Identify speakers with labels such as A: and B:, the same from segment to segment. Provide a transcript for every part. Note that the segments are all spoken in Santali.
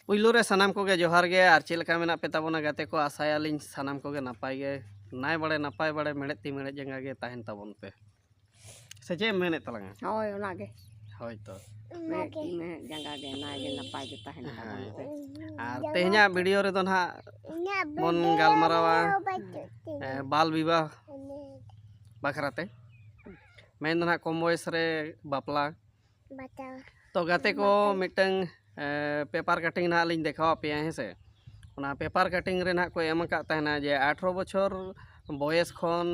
A: ᱯᱩᱭᱞᱩ ᱨᱮ ᱥᱟᱱᱟᱢ ᱠᱚᱜᱮ ᱡᱚᱦᱟᱨ ᱜᱮ ᱟᱨ ᱪᱮᱫ ᱞᱮᱠᱟ ᱢᱮᱱᱟᱜ ᱯᱮ ᱛᱟᱵᱚᱱᱟ ᱜᱟᱛᱮ ᱠᱚ ᱟᱥᱟᱭᱟᱞᱤᱧ ᱥᱟᱱᱟᱢ ᱠᱚᱜᱮ ᱱᱟᱯᱟᱭ ᱜᱮ ᱱᱟᱭ ᱵᱟᱲᱮ ᱱᱟᱯᱟᱭ ᱵᱟᱲᱮ ᱢᱮᱬᱦᱮᱫ ᱛᱤ ᱢᱮᱬᱦᱮᱫ ᱡᱟᱸᱜᱟ ᱜᱮ ᱛᱟᱦᱮᱱ ᱛᱟᱵᱚᱱ ᱯᱮ ᱥᱮ ᱪᱮᱫ ᱮᱢ ᱢᱮᱱᱮᱫ ᱛᱟᱞᱟᱝᱟ ᱦᱳᱭ ᱚᱱᱟᱜᱮ
B: ᱦᱳᱭ ᱛᱚ ᱢᱮᱬᱦᱮᱫ ᱛᱤ
A: ᱢᱮᱬᱦᱮᱫ
B: ᱡᱟᱸᱜᱟ ᱜᱮ ᱱᱟᱭ ᱜᱮ ᱱᱟᱯᱟᱭ ᱜᱮ ᱛᱟᱦᱮᱱ ᱛᱟᱵᱚᱱ ᱯᱮ ᱟᱨ ᱛᱮᱦᱮᱧᱟᱜ
A: ᱵᱷᱤᱰᱤᱭᱳ ᱨᱮᱫᱚ ᱱᱟᱦᱟᱜ ᱵᱚᱱ ᱜᱟᱞᱢᱟᱨᱟᱣᱟ ᱮᱸ, ᱵᱟᱞ ᱵᱤᱵᱟᱦ ᱵᱟᱠᱷᱨᱟᱛᱮ ᱢᱮᱱ ᱫᱚ ᱱᱟᱦᱟᱜ ᱠᱚᱢ ᱵᱚᱭᱮᱥ ᱨᱮ ᱵᱟᱯᱞᱟ ᱛᱚ ᱜᱟᱛᱮ ᱠᱚ ᱢᱤᱫᱴᱟᱝ ᱯᱮᱯᱟᱨ ᱠᱟᱴᱤᱝ ᱱᱟᱦᱟᱜ ᱞᱤᱧ ᱫᱮᱠᱷᱟᱣ ᱟᱯᱮᱭᱟ ᱦᱮᱸ ᱥᱮ ᱚᱱᱟ ᱯᱮᱯᱟᱨ ᱠᱟᱴᱤᱝ ᱨᱮ ᱱᱟᱦᱟᱜ ᱠᱚ ᱮᱢ ᱟᱠᱟᱫ ᱛᱟᱦᱮᱱᱟ ᱡᱮ ᱟᱴᱷᱨᱚ ᱵᱚᱪᱷᱚᱨ ᱵᱚᱭᱮᱥ ᱠᱷᱚᱱ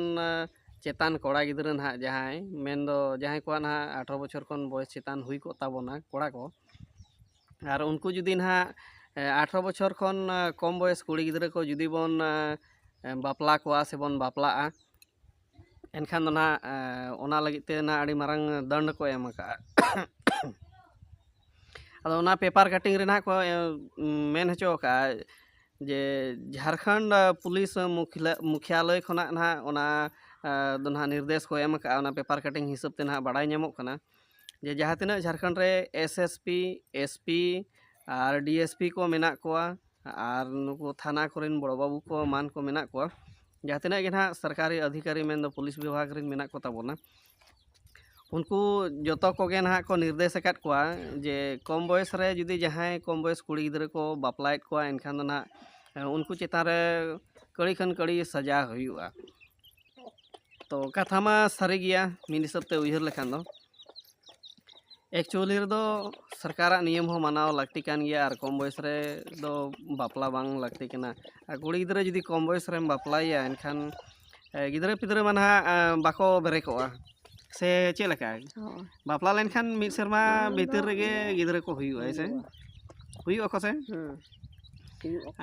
A: ᱪᱮᱛᱟᱱ ᱠᱚᱲᱟ ᱜᱤᱫᱽᱨᱟᱹ ᱱᱟᱦᱟᱜ ᱡᱟᱦᱟᱸᱭ ᱢᱮᱱᱫᱚ ᱡᱟᱦᱟᱸᱭ ᱠᱚᱣᱟᱜ ᱱᱟᱦᱟᱜ ᱟᱴᱷᱨᱚ ᱵᱚᱪᱷᱚᱨ ᱠᱷᱚᱱ ᱵᱚᱭᱮᱥ ᱪᱮᱛᱟᱱ ᱦᱩᱭ ᱠᱚᱜ ᱛᱟᱵᱚᱱᱟ ᱠᱚᱲᱟ ᱠᱚ ᱟᱨ ᱩᱱᱠᱩ ᱡᱩᱫᱤ ᱱᱟᱦᱟᱜ ᱟᱴᱷᱨᱚ ᱵᱚᱪᱷᱚᱨ ᱠᱷᱚᱱ ᱠᱚᱢ ᱵᱚᱭᱮᱥ ᱠᱩᱲᱤ ᱜᱤᱫᱽᱨᱟᱹ ᱠᱚ ᱡᱩᱫᱤ ᱵᱚᱱ ᱵᱟᱯᱞᱟ ᱠᱚᱣᱟ ᱥᱮᱵᱚᱱ ᱵᱟᱯᱞᱟᱜᱼᱟ ᱮᱱᱠᱷᱟᱱ ᱫᱚ ᱱᱟᱜ ᱚᱱᱟ ᱞᱟᱹᱜᱤᱫ ᱛᱮ ᱱᱟᱜ ᱟᱹᱰᱤ ᱢᱟᱨᱟᱝ ᱫᱚᱱᱰ ᱠᱚ ᱮᱢ ᱠᱟᱜᱼᱟ ᱟᱫᱚ ᱚᱱᱟ ᱯᱮᱯᱟᱨ ᱠᱟᱴᱤᱝ ᱨᱮ ᱱᱟᱜ ᱠᱚ ᱢᱮᱱ ᱦᱚᱪᱚ ᱠᱟᱜᱼᱟ ᱡᱮ ᱡᱷᱟᱲᱠᱷᱚᱸᱰ ᱯᱩᱞᱤᱥ ᱢᱩᱠᱷᱭᱟᱞᱚᱭ ᱠᱷᱚᱱᱟᱜ ᱱᱟᱜ ᱚᱱᱟ ᱫᱚ ᱱᱟᱜ ᱱᱤᱨᱫᱮᱥ ᱠᱚ ᱮᱢ ᱠᱟᱜᱼᱟ ᱚᱱᱟ ᱯᱮᱯᱟᱨ ᱠᱟᱴᱤᱝ ᱦᱤᱥᱟᱹᱵ ᱛᱮ ᱱᱟᱜ ᱵᱟᱲᱟᱭ ᱧᱟᱢᱚᱜ ᱠᱟᱱᱟ ᱡᱮ ᱡᱟᱦᱟᱸ ᱛᱤᱱᱟᱹᱜ ᱡᱷᱟᱲᱠᱷᱚᱸᱰ ᱨᱮ S S P S P ᱟᱨ ᱰᱤ ᱮᱥ ᱯᱤ ᱠᱚ ᱢᱮᱱᱟᱜ ᱠᱚᱣᱟ ᱟᱨ ᱱᱩᱠᱩ ᱛᱷᱟᱱᱟ ᱠᱚᱨᱮᱱ ᱵᱚᱲᱚ ᱵᱟᱹᱵᱩ ᱠᱚ ᱮᱢᱟᱱ ᱠᱚ ᱢᱮᱱᱟᱜ ᱠᱚᱣᱟ ᱡᱟᱦᱟᱸ ᱛᱤᱱᱟᱹᱜ ᱜᱮ ᱱᱟᱦᱟᱜ ᱥᱚᱨᱠᱟᱨᱤ ᱟᱫᱷᱤᱠᱟᱨᱤ ᱢᱮᱱᱫᱚ ᱯᱩᱞᱤᱥ ᱵᱤᱵᱷᱟᱜᱽ ᱨᱮᱱ ᱢᱮᱱᱟᱜ ᱠᱚᱛᱟ ᱵᱚᱱᱟ ᱩᱱᱠᱩ ᱡᱚᱛᱚ ᱠᱚᱜᱮ ᱱᱟᱦᱟᱜ ᱠᱚ ᱱᱤᱨᱫᱮᱥ ᱟᱠᱟᱫ ᱠᱚᱣᱟ ᱡᱮ ᱠᱚᱢ ᱵᱚᱭᱮᱥ ᱨᱮ ᱡᱩᱫᱤ ᱡᱟᱦᱟᱸᱭ ᱠᱚᱢ ᱵᱚᱭᱮᱥ ᱠᱩᱲᱤ ᱜᱤᱫᱽᱨᱟᱹ ᱠᱚ ᱵᱟᱯᱞᱟᱭᱮᱫ ᱠᱚᱣᱟ ᱮᱱᱠᱷᱟᱱ ᱫᱚ ᱱᱟᱦᱟᱜ ᱩᱱᱠᱩ ᱪᱮᱛᱟᱱ ᱨᱮ ᱠᱟᱹᱲᱤ ᱠᱷᱟᱱ ᱠᱟᱹᱲᱤ ᱥᱟᱡᱟ ᱦᱩᱭᱩᱜᱼᱟ ᱛᱚ ᱠᱟᱛᱷᱟ ᱢᱟ ᱥᱟᱹᱨᱤ ᱜᱮᱭᱟ ᱢᱤᱫ ᱦᱤᱥᱟᱹᱵ ᱛᱮ ᱩᱭᱦᱟᱹᱨ ᱞᱮᱠᱷᱟᱱ ᱫᱚ ᱮᱠᱪᱩᱭᱮᱞᱤ ᱨᱮᱫᱚ ᱥᱚᱨᱠᱟᱨᱟᱜ ᱱᱤᱭᱚᱢ ᱦᱚᱸ ᱢᱟᱱᱟᱣ ᱞᱟᱹᱠᱛᱤ ᱠᱟᱱ ᱜᱮᱭᱟ ᱟᱨ ᱠᱚᱢ ᱵᱚᱭᱮᱥ ᱨᱮ ᱫᱚ ᱵᱟᱯᱞᱟ ᱵᱟᱝ ᱞᱟᱹᱠᱛᱤ ᱠᱟᱱᱟ ᱟᱨ ᱠᱩᱲᱤ ᱜᱤᱫᱽᱨᱟᱹ ᱡᱩᱫᱤ ᱠᱚᱢ ᱵᱚᱭᱮᱥ ᱨᱮᱢ ᱵᱟᱯᱞᱟᱭᱮᱭᱟ ᱮᱱᱠᱷᱟᱱ ᱜᱤᱫᱽᱨᱟᱹ ᱯᱤᱫᱽᱨᱟᱹ ᱢᱟ ᱱᱟᱦᱟᱜ ᱵᱟᱠᱚ ᱵᱮᱨᱮ ᱠᱚᱜᱼᱟ ᱥᱮ ᱪᱮᱫ ᱞᱮᱠᱟ ᱦᱳᱭ ᱵᱟᱯᱞᱟ ᱞᱮᱱᱠᱷᱟᱱ ᱢᱤᱫ ᱥᱮᱨᱢᱟ ᱵᱷᱤᱛᱤᱨ ᱨᱮᱜᱮ ᱜᱤᱫᱽᱨᱟᱹ ᱠᱚ ᱦᱩᱭᱩᱜᱼᱟ ᱦᱮᱸ ᱥᱮ ᱦᱩᱭᱩᱜ ᱟᱠᱚ ᱥᱮ ᱦᱮᱸ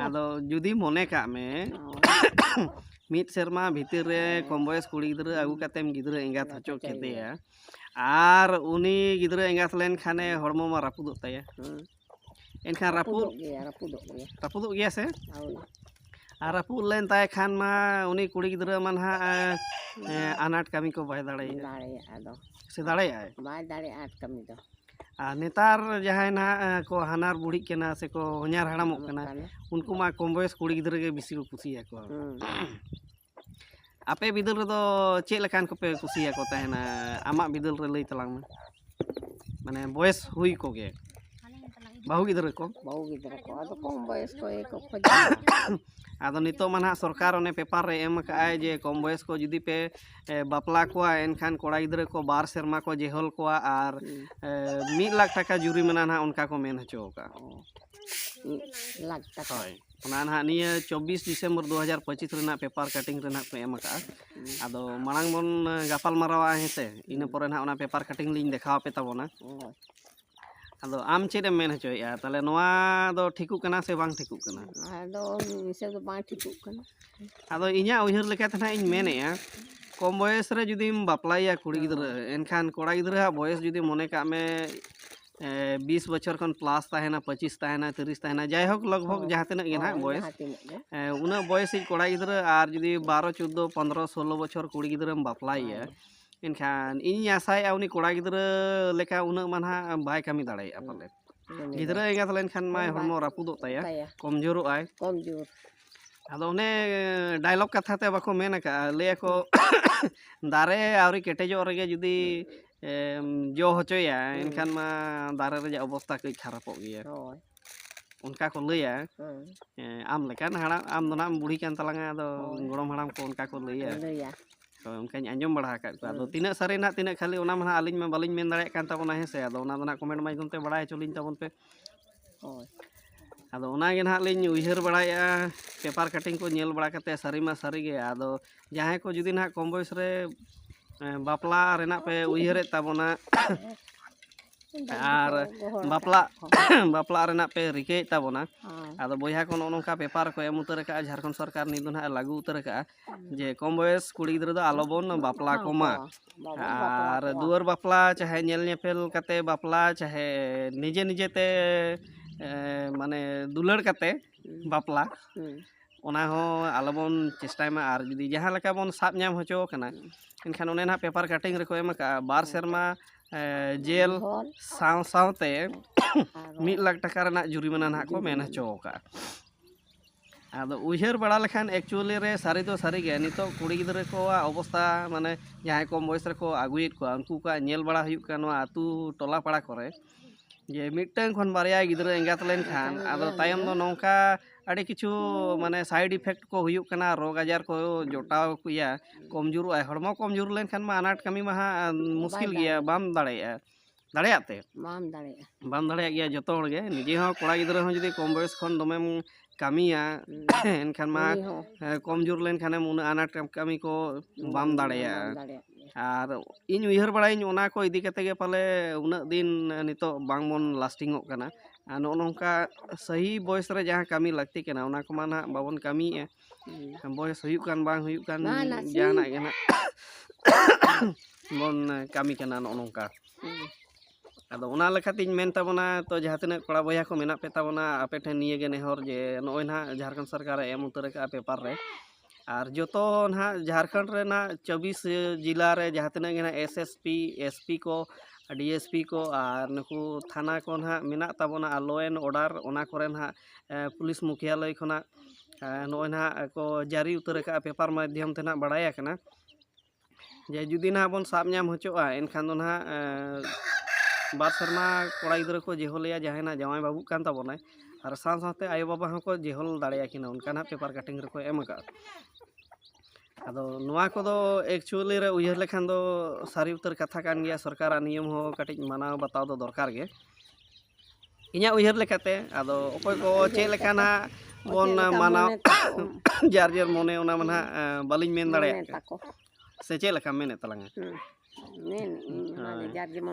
A: ᱟᱫᱚ ᱡᱩᱫᱤ ᱢᱚᱱᱮ ᱠᱟᱜ ᱢᱮ ᱢᱤᱫ ᱥᱮᱨᱢᱟ ᱵᱷᱤᱛᱤᱨ ᱨᱮ ᱠᱚᱢ ᱵᱚᱭᱮᱥ ᱠᱩᱲᱤ ᱜᱤᱫᱽᱨᱟᱹ ᱟᱹᱜᱩ ᱠᱟᱛᱮᱢ ᱜᱤᱫᱽᱨᱟᱹ ᱮᱸᱜᱟᱛ ᱦᱚᱪᱚ ᱠᱮᱫᱮᱭᱟ ᱟᱨ ᱩᱱᱤ ᱜᱤᱫᱽᱨᱟᱹ ᱮᱸᱜᱟᱛ ᱞᱮᱱᱠᱷᱟᱱᱮ ᱦᱚᱲᱢᱚ ᱢᱟ ᱨᱟᱹᱯᱩᱫᱚᱜ ᱛᱟᱭᱟ ᱮᱱᱠᱷᱟᱱ ᱨᱟᱹᱯᱩᱫ ᱨᱟᱹᱯᱩᱫᱚᱜ ᱜᱮᱭᱟ ᱥᱮ ᱟᱨ ᱨᱟᱹᱯᱩᱫ ᱞᱮᱱ ᱛᱟᱭ ᱠᱷᱟᱱ ᱢᱟ ᱩᱱᱤ ᱠᱩᱲᱤ ᱜᱤᱫᱽᱨᱟᱹ ᱢᱟ ᱱᱟᱦᱟᱜ ᱟᱱᱟᱴ ᱠᱟᱹᱢᱤ ᱠᱚ ᱵᱟᱭ ᱫᱟᱲᱮᱭᱟᱜᱼᱟ ᱫᱟᱲᱮᱭᱟᱜᱼᱟ ᱟᱫᱚ ᱥᱮ ᱫᱟᱲᱮᱭᱟᱜᱼᱟᱭ ᱵᱟᱭ ᱫᱟᱲᱮᱭᱟᱜᱼᱟ ᱟᱱᱟᱴ ᱠᱟᱹᱢᱤ ᱫᱚ
B: ᱟᱨ ᱱᱮᱛᱟᱨ
A: ᱡᱟᱦᱟᱸᱭ ᱱᱟᱦᱟᱜ ᱠᱚ ᱦᱟᱱᱦᱟᱨ ᱵᱩᱲᱦᱤᱜ ᱠᱟᱱᱟ ᱥᱮᱠᱚ ᱦᱚᱧᱦᱟᱨ ᱦᱟᱲᱟᱢᱚᱜ ᱠᱟᱱᱟ ᱩᱱᱠᱩ ᱢᱟ ᱠᱚᱢ ᱵᱚᱭᱮᱥ ᱠᱩᱲᱤ ᱜᱤᱫᱽᱨᱟᱹ ᱜᱮ ᱵᱤᱥᱤ ᱠᱚ ᱠᱩᱥᱤᱭᱟᱠᱚᱣᱟ ᱟᱯᱮ ᱵᱤᱫᱟᱹᱞ ᱨᱮᱫᱚ ᱪᱮᱫ ᱞᱮᱠᱟᱱ ᱠᱚᱯᱮ ᱠᱩᱥᱤᱭᱟᱠᱚ ᱛᱟᱦᱮᱱᱟ ᱟᱢᱟᱜ ᱵᱤᱫᱟᱹᱞ ᱨᱮ ᱞᱟᱹᱭ ᱛᱟᱞᱟᱝ ᱢᱮ ᱢᱟᱱᱮ ᱵᱚᱭᱮᱥ ᱦᱩᱭ ᱠᱚᱜᱮ ᱵᱟᱹᱦᱩ ᱜᱤᱫᱽᱨᱟᱹ ᱠᱚ ᱵᱟᱹᱦᱩ ᱜᱤᱫᱽᱨᱟᱹ ᱠᱚ ᱟᱫᱚ ᱠᱚᱢ
B: ᱵᱚᱭᱮᱥ ᱠᱚ ᱜᱮᱠᱚ ᱠᱷᱚᱡᱚᱜᱼᱟ ᱟᱫᱚ ᱱᱤᱛᱚᱜ
A: ᱢᱟ ᱱᱟᱦᱟᱜ ᱥᱚᱨᱠᱟᱨ ᱚᱱᱮ ᱯᱮᱯᱟᱨ ᱨᱮ ᱮᱢ ᱟᱠᱟᱫ ᱟᱭ ᱡᱮ ᱠᱚᱢ ᱵᱚᱭᱮᱥ ᱠᱚ ᱡᱩᱫᱤ ᱯᱮ ᱵᱟᱯᱞᱟ ᱠᱚᱣᱟ ᱮᱱᱠᱷᱟᱱ ᱠᱚᱲᱟ ᱜᱤᱫᱽᱨᱟᱹ ᱠᱚ ᱵᱟᱨ ᱥᱮᱨᱢᱟ ᱠᱚ ᱡᱮᱦᱚᱞ ᱠᱚᱣᱟ ᱟᱨ ᱢᱤᱫ ᱞᱟᱠᱷ ᱴᱟᱠᱟ ᱡᱩᱨᱤᱢᱟᱱᱟ ᱱᱟᱦᱟᱜ ᱚᱱᱠᱟ ᱠᱚ ᱢᱮᱱ ᱦᱚᱪᱚ ᱟᱠᱟᱫᱼᱟ ᱢᱤᱫ ᱞᱟᱠᱷ ᱴᱟᱠᱟ ᱦᱳᱭ
B: ᱚᱱᱟ ᱱᱟᱦᱟᱜ ᱱᱤᱭᱟᱹ
A: ᱪᱚᱵᱽᱵᱤᱥ ᱰᱤᱥᱮᱢᱵᱚᱨ ᱫᱩ ᱦᱟᱡᱟᱨ ᱯᱚᱸᱪᱤᱥ ᱨᱮᱱᱟᱜ ᱯᱮᱯᱟᱨ ᱠᱟᱴᱤᱝ ᱨᱮ ᱱᱟᱦᱟᱜ ᱠᱚ ᱮᱢ ᱟᱠᱟᱫᱼᱟ ᱟᱫᱚ ᱢᱟᱲᱟᱝ ᱵᱚᱱ ᱜᱟᱯᱟᱞ ᱢᱟᱨᱟᱣᱟ ᱦᱮᱸ ᱥᱮ ᱤᱱᱟᱹ ᱯᱚᱨᱮ ᱱᱟᱦᱟᱜ ᱚᱱᱟ ᱯᱮᱯᱟᱨ ᱠᱟᱴᱤᱝ ᱞᱤᱧ ᱫᱮᱠᱷᱟᱣ ᱟᱯᱮ ᱛᱟᱵᱚᱱᱟ ᱟᱫᱚ ᱟᱢ ᱪᱮᱫ ᱮᱢ ᱢᱮᱱ ᱦᱚᱪᱚᱭᱮᱫᱼᱟ ᱛᱟᱦᱚᱞᱮ ᱱᱚᱣᱟ ᱫᱚ ᱴᱷᱤᱠᱚᱜ ᱠᱟᱱᱟ ᱥᱮ ᱵᱟᱝ ᱴᱷᱤᱠᱚᱜ ᱠᱟᱱᱟ ᱟᱫᱚ ᱢᱤᱫ
B: ᱦᱤᱥᱟᱹᱵ ᱫᱚ ᱵᱟᱝ ᱴᱷᱤᱠᱚᱜ ᱠᱟᱱᱟ ᱟᱫᱚ ᱤᱧᱟᱹᱜ
A: ᱩᱭᱦᱟᱹᱨ ᱞᱮᱠᱟᱛᱮ ᱱᱟᱦᱟᱜ ᱤᱧ ᱢᱮᱱᱮᱫᱼᱟ ᱠᱚᱢ ᱵᱚᱭᱮᱥ ᱨᱮ ᱡᱩᱫᱤᱢ ᱵᱟᱯᱞᱟᱭᱮᱭᱟ ᱠᱩᱲᱤ ᱜᱤᱫᱽᱨᱟᱹ ᱮᱱᱠᱷᱟᱱ ᱠᱚᱲᱟ ᱜᱤᱫᱽᱨᱟᱹᱣᱟᱜ ᱵᱚᱭᱮᱥ ᱡᱩᱫᱤ ᱢᱚᱱᱮ ᱠᱟᱜ ᱢᱮ ᱮ, ᱵᱤᱥ ᱵᱚᱪᱷᱚᱨ ᱠᱷᱚᱱ ᱯᱞᱟᱥ ᱛᱟᱦᱮᱱᱟ ᱯᱚᱸᱪᱤᱥ ᱛᱟᱦᱮᱱᱟ ᱛᱤᱨᱤᱥ ᱛᱟᱦᱮᱱᱟ ᱡᱟᱭᱦᱳᱠ ᱞᱚᱜᱽ ᱵᱷᱚᱜᱽ ᱡᱟᱦᱟᱸ ᱛᱤᱱᱟᱹᱜ ᱜᱮ ᱱᱟᱦᱟᱜ ᱵᱚᱭᱮᱥ ᱡᱟᱦᱟᱸ ᱛᱤᱱᱟᱹᱜ ᱜᱮ ᱮ, ᱩᱱᱟᱹᱜ ᱵᱚᱭᱮᱥᱤᱡ ᱠᱚᱲᱟ ᱜᱤᱫᱽᱨᱟᱹ ᱟᱨ ᱡᱩᱫᱤ ᱵᱟᱨᱚ ᱪᱳᱫᱽᱫᱳ ᱯᱚᱱᱨᱚ ᱥᱳᱞᱳ ᱵᱚᱪᱷᱚᱨ ᱠᱩᱲᱤ ᱜᱤᱫᱽᱨᱟᱹᱢ ᱵᱟᱯᱞᱟᱭᱮᱭᱟ ᱮᱱᱠᱷᱟᱱ ᱤᱧᱤᱧ ᱟᱥᱟᱭᱮᱜᱼᱟ ᱩᱱᱤ ᱠᱚᱲᱟ ᱜᱤᱫᱽᱨᱟᱹ ᱞᱮᱠᱟ ᱩᱱᱟᱹᱜ ᱢᱟ ᱱᱟᱦᱟᱜ ᱵᱟᱭ ᱠᱟᱹᱢᱤ ᱫᱟᱲᱮᱭᱟᱜᱼᱟ ᱯᱟᱞᱮᱫ ᱜᱤᱫᱽᱨᱟᱹ ᱮᱸᱜᱟᱛ ᱞᱮᱱᱠᱷᱟᱱ ᱢᱟᱭ ᱦᱚᱲᱢᱚ ᱨᱟᱹᱯᱩᱫᱚᱜ ᱛᱟᱭᱟ ᱛᱟᱭᱟ ᱠᱚᱢ ᱡᱳᱨᱚᱜ ᱟᱭ ᱠᱚᱢ ᱡᱳᱨ ᱟᱫᱚ ᱚᱱᱮ ᱰᱟᱭᱞᱚᱜᱽ ᱠᱟᱛᱷᱟ ᱛᱮ ᱵᱟᱠᱚ ᱢᱮᱱ ᱟᱠᱟᱜᱼᱟ ᱞᱟᱹᱭ ᱟᱠᱚ ᱫᱟᱨᱮ ᱟᱹᱣᱨᱤ ᱠᱮᱴᱮᱡᱚᱜ ᱨᱮᱜᱮ ᱡᱩᱫᱤ ᱮᱢ ᱡᱚ ᱦᱚᱪᱚᱭᱟ ᱮᱱᱠᱷᱟᱱ ᱢᱟ ᱫᱟᱨᱮ ᱨᱮᱭᱟᱜ ᱚᱵᱚᱥᱛᱟ ᱠᱟᱹᱡ ᱠᱷᱟᱨᱟᱯᱚᱜ ᱜᱮᱭᱟ ᱦᱳᱭ ᱚᱱᱠᱟ ᱠᱚ ᱞᱟᱹᱭᱟ ᱦᱮᱸ ᱮᱸ, ᱟᱢ ᱞᱮᱠᱟᱱ ᱦᱟᱲᱟᱢ ᱟᱢ ᱫᱚ ᱱᱟᱜ ᱮᱢ ᱵᱩᱲᱦᱤ ᱠᱟᱱ ᱛᱟᱞᱟᱝᱟ ᱟᱫᱚ ᱜᱚᱲᱚᱢ ᱦᱟᱲᱟᱢ ᱠᱚ ᱚᱱᱠᱟ ᱠᱚ ᱞᱟᱹᱭᱟ ᱞᱟᱹᱭᱟ ᱦᱳᱭ ᱚᱱᱠᱟᱧ ᱟᱸᱡᱚᱢ ᱵᱟᱲᱟ ᱟᱠᱟᱫ ᱠᱚᱣᱟ ᱟᱫᱚ ᱛᱤᱱᱟᱹᱜ ᱥᱟᱹᱨᱤ ᱱᱟᱦᱟᱜ ᱛᱤᱱᱟᱹᱜ ᱠᱷᱟᱹᱞᱤ ᱚᱱᱟ ᱢᱟ ᱱᱟᱦᱟᱜ ᱟᱹᱞᱤᱧ ᱢᱟ ᱵᱟᱹᱞᱤᱧ ᱢᱮᱱ ᱫᱟᱲᱮᱭᱟᱜ ᱠᱟᱱ ᱛᱟᱵᱚᱱᱟ ᱦᱮᱸ ᱥᱮ ᱟᱫᱚ ᱚᱱᱟ ᱫᱚ ᱱᱟᱦᱟᱜ ᱠᱚᱢᱮᱱᱴ ᱢᱟᱫᱽᱫᱷᱚᱢ ᱛᱮ ᱵᱟᱲᱟᱭ ᱦᱚᱪᱚ ᱞᱤᱧ ᱛᱟᱵᱚᱱ ᱯᱮ ᱦᱳᱭ ᱟᱫᱚ ᱚᱱᱟᱜᱮ ᱱᱟᱦᱟᱜ ᱞᱤᱧ ᱩᱭᱦᱟᱹᱨ ᱵᱟᱲᱟᱭᱮᱫᱼᱟ ᱯᱮᱯᱟᱨ ᱠᱟᱴᱤᱝ ᱠᱚ ᱧᱮᱞ ᱵᱟᱲᱟ ᱠᱟᱛᱮᱫ ᱥᱟᱹᱨᱤ ᱢᱟ ᱥᱟᱹᱨᱤ ᱜᱮ ᱟᱫᱚ ᱡᱟᱦᱟᱸᱭ ᱠᱚ ᱡᱩᱫᱤ ᱱᱟᱦᱟᱜ ᱠᱚᱢ ᱵᱚᱭᱮᱥ ᱨᱮ ᱮᱸ, ᱵᱟᱯᱞᱟ ᱨᱮᱱᱟᱜ ᱯᱮ ᱩᱭᱦᱟᱹᱨᱮᱫ ᱛᱟᱵᱚᱱᱟ ᱟᱨ ᱵᱟᱯᱞᱟ ᱵᱟᱯᱞᱟ ᱨᱮᱱᱟᱜ ᱯᱮ ᱨᱤᱠᱟᱹᱭᱮᱫ ᱛᱟᱵᱚᱱᱟ ᱦᱳᱭ ᱟᱫᱚ ᱵᱚᱭᱦᱟ ᱠᱚ ᱱᱚᱜᱼᱚ ᱱᱚᱝᱠᱟ ᱯᱮᱯᱟᱨ ᱠᱚ ᱮᱢ ᱩᱛᱟᱹᱨ ᱠᱟᱜᱼᱟ ᱡᱷᱟᱲᱠᱷᱚᱸᱰ ᱥᱚᱨᱠᱟᱨ ᱱᱤᱛ ᱫᱚ ᱱᱟᱦᱟᱜ ᱞᱟᱹᱜᱩ ᱩᱛᱟᱹᱨ ᱠᱟᱜᱼᱟ ᱡᱮ ᱠᱚᱢ ᱵᱚᱭᱮᱥ ᱠᱩᱲᱤ ᱜᱤᱫᱽᱨᱟᱹ ᱫᱚ ᱟᱞᱚ ᱵᱚᱱ ᱵᱟᱯᱞᱟ ᱠᱚᱢᱟ ᱟᱨ ᱫᱩᱣᱟᱹᱨ ᱵᱟᱯᱞᱟ ᱪᱟᱦᱮ ᱧᱮᱞ ᱧᱮᱯᱮᱞ ᱠᱟᱛᱮ ᱵᱟᱯᱞᱟ ᱪᱟᱦᱮ ᱱᱤᱡᱮ ᱱᱤᱡᱮ ᱛᱮ ᱢᱟᱱᱮ ᱫᱩᱞᱟᱹᱲ ᱠᱟᱛᱮ ᱵᱟᱯᱞᱟ ᱚᱱᱟ ᱦᱚᱸ ᱟᱞᱚ ᱵᱚᱱ ᱪᱮᱥᱴᱟᱭ ᱢᱟ ᱟᱨ ᱡᱩᱫᱤ ᱡᱟᱦᱟᱸ ᱞᱮᱠᱟ ᱵᱚᱱ ᱥᱟᱵ ᱧᱟᱢ ᱦᱚᱪᱚ ᱠᱟᱱᱟ ᱮᱱᱠᱷᱟᱱ ᱚᱱᱮ ᱱᱟᱦᱟᱜ ᱯᱮᱯᱟᱨ ᱠᱟᱴᱤᱝ ᱨᱮᱠᱚ ᱮᱢ ᱟᱠᱟᱜᱼᱟ ᱵᱟᱨ ᱥᱮᱨᱢᱟ ᱡᱮᱞ
B: ᱥᱟᱶ ᱥᱟᱶᱛᱮ ᱢᱤᱫ ᱞᱟᱠᱷ ᱴᱟᱠᱟ ᱨᱮᱱᱟᱜ
A: ᱡᱩᱨᱤᱢᱟᱱᱟ ᱱᱟᱦᱟᱜ ᱠᱚ ᱢᱮᱱ ᱦᱚᱪᱚ ᱟᱠᱟᱜᱼᱟ ᱟᱫᱚ ᱩᱭᱦᱟᱹᱨ ᱵᱟᱲᱟ ᱞᱮᱠᱷᱟᱱ ᱮᱠᱪᱩᱭᱮᱞᱤ ᱨᱮ ᱥᱟᱹᱨᱤ ᱫᱚ ᱥᱟᱹᱨᱤ ᱜᱮ ᱱᱤᱛᱚᱜ ᱠᱩᱲᱤ ᱜᱤᱫᱽᱨᱟᱹ ᱠᱚᱣᱟᱜ ᱚᱵᱚᱥᱛᱟ ᱢᱟᱱᱮ ᱡᱟᱦᱟᱸᱭ ᱠᱚᱢ ᱵᱚᱭᱮᱥ ᱨᱮᱠᱚ ᱟᱹᱜᱩᱭᱮᱫ ᱠᱚᱣᱟ ᱩᱱᱠᱩ ᱠᱚᱣᱟᱜ ᱧᱮᱞ ᱵᱟᱲᱟ ᱦᱩᱭᱩᱜ ᱠᱟᱱᱟ ᱱᱚᱣᱟ ᱟᱹᱛᱩ ᱴᱚᱞᱟ ᱯᱟᱲᱟ ᱠᱚᱨᱮ ᱡᱮ ᱢᱤᱫᱴᱟᱹᱝ ᱠᱷᱚᱱ ᱵᱟᱨᱭᱟ ᱜᱤᱫᱽᱨᱟᱹ ᱮᱸᱜᱟᱛ ᱞᱮᱱᱠᱷᱟᱱ ᱟᱫᱚ ᱛᱟᱭᱚᱢ ᱫᱚ ᱱᱚᱝᱠᱟ ᱟᱹᱰᱤ ᱠᱤᱪᱷᱩ ᱢᱟᱱᱮ ᱥᱟᱭᱤᱰ ᱤᱯᱷᱮᱠᱴ ᱠᱚ ᱦᱩᱭᱩᱜ ᱠᱟᱱᱟ ᱨᱳᱜᱽ ᱟᱡᱟᱨ ᱠᱚ ᱡᱚᱴᱟᱣ ᱠᱚᱭᱟ ᱠᱚᱢᱡᱳᱨᱚᱜᱼᱟᱭ ᱦᱚᱲᱢᱚ ᱠᱚᱢᱡᱳᱨ ᱞᱮᱱᱠᱷᱟᱱ ᱢᱟ ᱟᱱᱟᱴ ᱠᱟᱹᱢᱤ ᱢᱟ ᱦᱟᱸᱜ ᱢᱩᱥᱠᱤᱞ ᱜᱮᱭᱟ ᱵᱟᱢ ᱫᱟᱲᱮᱭᱟᱜᱼᱟ ᱫᱟᱲᱮᱭᱟᱜ ᱛᱮ ᱵᱟᱢ ᱫᱟᱲᱮᱭᱟᱜᱼᱟ
B: ᱵᱟᱢ ᱫᱟᱲᱮᱭᱟᱜ ᱜᱮᱭᱟ ᱡᱚᱛᱚ
A: ᱦᱚᱲ ᱜᱮ ᱱᱤᱡᱮ ᱦᱚᱸ ᱠᱚᱲᱟ ᱜᱤᱫᱽᱨᱟᱹ ᱦᱚᱸ ᱡᱩᱫᱤ ᱠᱚᱢ ᱵᱚᱭᱚᱥ ᱠᱷᱚᱱ ᱫᱚᱢᱮᱢ ᱠᱟᱹᱢᱤᱭᱟ ᱮᱱᱠᱷᱟᱱ ᱢᱟ ᱩᱱᱤ ᱦᱚᱸ ᱦᱮᱸ, ᱠᱚᱢ ᱡᱳᱨ ᱞᱮᱱᱠᱷᱟᱱᱮᱢ ᱩᱱᱟᱹᱜ ᱟᱱᱟᱴ ᱠᱟᱹᱢᱤ ᱠᱚ ᱵᱟᱢ ᱵᱟᱢ ᱫᱟᱲᱮᱭᱟᱜᱼᱟ ᱫᱟᱲᱮᱭᱟᱜ ᱜᱮᱭᱟ ᱟᱨ ᱤᱧ ᱩᱭᱦᱟᱹᱨ ᱵᱟᱲᱟᱭᱟᱹᱧ ᱚᱱᱟ ᱠᱚ ᱤᱫᱤ ᱠᱟᱛᱮ ᱜᱮ ᱯᱟᱞᱮ ᱩᱱᱟᱹᱜ ᱫᱤᱱ ᱱᱤᱛᱚᱜ ᱵᱟᱝᱵᱚᱱ ᱞᱟᱥᱴᱤᱝᱚᱜ ᱠᱟᱱᱟ ᱟᱨ ᱱᱚᱜᱼᱚ ᱱᱚᱝᱠᱟ ᱥᱟᱹᱦᱤ ᱵᱚᱭᱮᱥ ᱨᱮ ᱡᱟᱦᱟᱸ ᱠᱟᱹᱢᱤ ᱞᱟᱹᱠᱛᱤ ᱠᱟᱱᱟ ᱚᱱᱟ ᱠᱚᱢᱟ ᱱᱟᱦᱟᱜ ᱵᱟᱵᱚᱱ ᱠᱟᱹᱢᱤᱭᱮᱫᱼᱟ ᱵᱚᱭᱮᱥ ᱦᱩᱭᱩᱜ ᱠᱟᱱ ᱵᱟᱝ ᱦᱩᱭᱩᱜ ᱠᱟᱱ ᱡᱟᱦᱟᱱᱟᱜ ᱜᱮ ᱱᱟᱜ ᱵᱚᱱ ᱠᱟᱹᱢᱤ ᱠᱟᱱᱟ ᱱᱚᱜᱼᱚ ᱱᱚᱝᱠᱟ ᱟᱫᱚ ᱚᱱᱟ ᱞᱮᱠᱟᱛᱤᱧ ᱢᱮᱱ ᱛᱟᱵᱚᱱᱟ ᱛᱚ ᱡᱟᱦᱟᱸ ᱛᱤᱱᱟᱹᱜ ᱠᱚᱲᱟ ᱵᱚᱭᱦᱟ ᱠᱚ ᱢᱮᱱᱟᱜ ᱯᱮ ᱛᱟᱵᱚᱱᱟ ᱟᱯᱮ ᱴᱷᱮᱱ ᱱᱤᱭᱟᱹ ᱜᱮ ᱱᱮᱦᱚᱨ ᱡᱮ ᱱᱚᱜᱼᱚᱭ ᱱᱟᱦᱟᱜ ᱡᱷᱟᱲᱠᱷᱚᱸᱰ ᱥᱚᱨᱠᱟᱨᱮ ᱮᱢ ᱩᱛᱟᱹᱨ ᱟᱠᱟᱫᱼᱟ ᱯᱮᱯᱟᱨ ᱨᱮ ᱟᱨ ᱡᱚᱛᱚ ᱱᱟᱦᱟᱜ ᱡᱷᱟᱲᱠᱷᱚᱸᱰ ᱨᱮᱱᱟᱜ ᱪᱚᱵᱵᱤᱥ ᱡᱮᱞᱟ ᱨᱮ ᱡᱟᱦᱟᱸ ᱛᱤᱱᱟᱹᱜ ᱜᱮ ᱱᱟᱦᱟᱜ S S P S P ᱠᱚ ᱰᱤ ᱮᱥ ᱯᱤ ᱠᱚ ᱟᱨ ᱱᱩᱠᱩ ᱛᱷᱟᱱᱟ ᱠᱚ ᱱᱟᱦᱟᱜ ᱢᱮᱱᱟᱜ ᱛᱟᱵᱚᱱᱟ ᱟᱨ ᱞᱚ ᱮᱱᱰ ᱚᱰᱟᱨ ᱚᱱᱟ ᱠᱚᱨᱮ ᱱᱟᱦᱟᱜ ᱯᱩᱞᱤᱥ ᱢᱩᱠᱷᱭᱟᱞᱚᱭ ᱠᱷᱚᱱᱟᱜ ᱱᱚᱜᱼᱚᱭ ᱱᱟᱦᱟᱜ ᱠᱚ ᱡᱟᱹᱨᱤ ᱩᱛᱟᱹᱨ ᱠᱟᱜᱼᱟ ᱯᱮᱯᱟᱨ ᱢᱟᱫᱽᱫᱷᱚᱢ ᱛᱮ ᱱᱟᱦᱟᱜ ᱵᱟᱲᱟᱭ ᱟᱠᱟᱱᱟ ᱡᱮ ᱡᱩᱫᱤ ᱱᱟᱦᱟᱜ ᱵᱚᱱ ᱥᱟᱵ ᱧᱟᱢ ᱦᱚᱪᱚᱜᱼᱟ ᱮᱱᱠᱷᱟᱱ ᱫᱚ ᱱᱟᱦᱟᱜ ᱵᱟᱨ ᱥᱮᱨᱢᱟ ᱠᱚᱲᱟ ᱜᱤᱫᱽᱨᱟᱹ ᱠᱚ ᱡᱮᱦᱳᱞᱮᱭᱟ ᱡᱟᱦᱟᱸᱭ ᱱᱟᱦᱟᱜ ᱡᱟᱶᱟᱭ ᱵᱟᱹᱵᱩᱜ ᱠᱟᱱ ᱛᱟᱵᱚᱱᱟᱭ ᱟᱨ ᱥᱟᱶ ᱥᱟᱶᱛᱮ ᱟᱭᱳ ᱵᱟᱵᱟ ᱦᱚᱸᱠᱚ ᱡᱮᱦᱳᱞ ᱫᱟᱲᱮᱭᱟᱠᱤᱱᱟ ᱚᱱᱠᱟ ᱱᱟᱦᱟᱜ ᱯᱮᱯᱟᱨ ᱠᱟᱴᱤᱝ ᱨᱮᱠᱚ ᱮᱢ ᱠᱟᱜᱼᱟ ᱟᱫᱚ ᱱᱚᱣᱟ ᱠᱚᱫᱚ ᱮᱠᱪᱩᱭᱮᱞᱤ ᱨᱮ ᱩᱭᱦᱟᱹᱨ ᱞᱮᱠᱷᱟᱱ ᱫᱚ ᱥᱟᱹᱨᱤ ᱩᱛᱟᱹᱨ ᱠᱟᱛᱷᱟ ᱠᱟᱱ ᱜᱮᱭᱟ ᱥᱚᱨᱠᱟᱨᱟᱜ ᱱᱤᱭᱚᱢ ᱦᱚᱸ ᱠᱟᱹᱴᱤᱡ ᱢᱟᱱᱟᱣ ᱵᱟᱛᱟᱣ ᱫᱚ ᱫᱚᱨᱠᱟᱨ ᱜᱮ ᱤᱧᱟᱹᱜ ᱩᱭᱦᱟᱹᱨ ᱞᱮᱠᱟᱛᱮ ᱟᱫᱚ ᱚᱠᱚᱭ ᱠᱚ ᱪᱮᱫ ᱞᱮᱠᱟ ᱱᱟᱦᱟᱜ ᱵᱚᱱ ᱢᱟᱱᱟᱣ ᱡᱟᱨ ᱡᱮᱨ ᱢᱚᱱᱮ ᱚᱱᱟ ᱢᱟ ᱱᱟᱦᱟᱜ ᱵᱟᱹᱞᱤᱧ ᱢᱮᱱ ᱫᱟᱲᱮᱭᱟᱜ ᱠᱟᱱᱟ ᱥᱮ ᱪᱮᱫ ᱞᱮᱠᱟᱢ ᱢᱮᱱᱮᱫ ᱛᱟᱞᱟᱝᱟ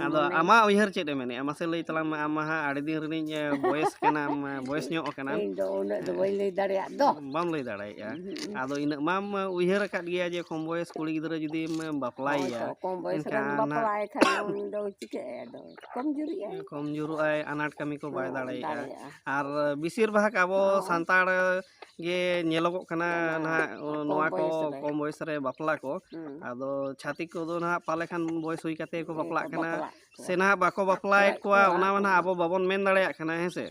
A: ᱟᱫᱚ ᱟᱢᱟᱜ ᱩᱭᱦᱟᱹᱨ ᱪᱮᱫ ᱮ ᱢᱮᱱᱮᱫᱼᱟ ᱢᱟᱥᱮ ᱞᱟᱹᱭ ᱛᱟᱞᱟᱝ ᱢᱮ ᱟᱢ ᱢᱟ ᱦᱟᱸᱜ ᱟᱹᱰᱤ ᱫᱤᱱ ᱨᱤᱱᱤᱡ ᱵᱚᱭᱮᱥ ᱠᱟᱱᱟᱢ ᱵᱚᱭᱮᱥ ᱧᱚᱜ ᱠᱟᱱᱟᱢ ᱤᱧ ᱫᱚ ᱩᱱᱟᱹᱜ ᱫᱚ ᱵᱟᱹᱧ ᱞᱟᱹᱭ ᱫᱟᱲᱮᱭᱟᱜ ᱫᱚ ᱵᱟᱢ ᱞᱟᱹᱭ ᱫᱟᱲᱮᱭᱟᱜᱼᱟ ᱟᱫᱚ ᱤᱱᱟᱹᱜ ᱢᱟᱢ ᱩᱭᱦᱟᱹᱨ ᱟᱠᱟᱫ ᱜᱮᱭᱟ ᱡᱮ ᱠᱚᱢ ᱵᱚᱭᱮᱥ ᱠᱩᱲᱤ ᱜᱤᱫᱽᱨᱟᱹ ᱡᱩᱫᱤᱢ ᱵᱟᱯᱞᱟᱭᱮᱭᱟ ᱠᱚᱢ ᱵᱚᱭᱮᱥ ᱨᱮᱢ ᱵᱟᱯᱞᱟᱭᱮ ᱠᱷᱟᱱ ᱩᱱᱤ ᱫᱚ ᱪᱤᱠᱟᱹᱜᱼᱟᱭ ᱟᱫᱚ ᱠᱚᱢ ᱡᱩᱨᱤᱜᱼᱟ ᱠᱚᱢ ᱡᱩᱨᱩᱜᱼᱟᱭ ᱟᱱᱟᱴ ᱠᱟᱹᱢᱤ ᱠᱚ ᱵᱟᱭ ᱫᱟᱲᱮᱭᱟᱜᱼᱟ ᱟᱨ ᱵᱮᱥᱤᱨ ᱵᱷᱟᱜᱽ ᱟᱵᱚ ᱥᱟᱱᱛᱟᱲ ᱜᱮ ᱧᱮᱞᱚᱜᱚᱜ ᱠᱟᱱᱟ ᱱᱟᱦᱟᱜ ᱱᱚᱣᱟ ᱠᱚ ᱠᱚᱢ ᱵᱚᱭᱮᱥ ᱨᱮ ᱵᱟᱯᱞᱟ ᱠᱚ ᱟᱫᱚ ᱪᱷᱟᱹᱛᱤᱠ ᱠᱚᱫᱚ ᱱᱟᱦᱟᱜ ᱯᱟᱞᱮ ᱠᱷᱟᱱ ᱵᱚᱭᱮᱥ ᱦᱩᱭ ᱠᱟᱛᱮ ᱠᱚ ᱵᱟᱯᱞᱟᱜ ᱠᱟᱱᱟ ᱥᱮ ᱱᱟᱦᱟᱜ ᱵᱟᱠᱚ ᱵᱟᱯᱞᱟᱭᱮᱫ ᱠᱚᱣᱟ ᱚᱱᱟ ᱢᱟ ᱱᱟᱦᱟᱜ ᱟᱵᱚ ᱵᱟᱵᱚᱱ ᱢᱮᱱ ᱫᱟᱲᱮᱭᱟᱜ ᱠᱟᱱᱟ ᱦᱮᱸ ᱥᱮ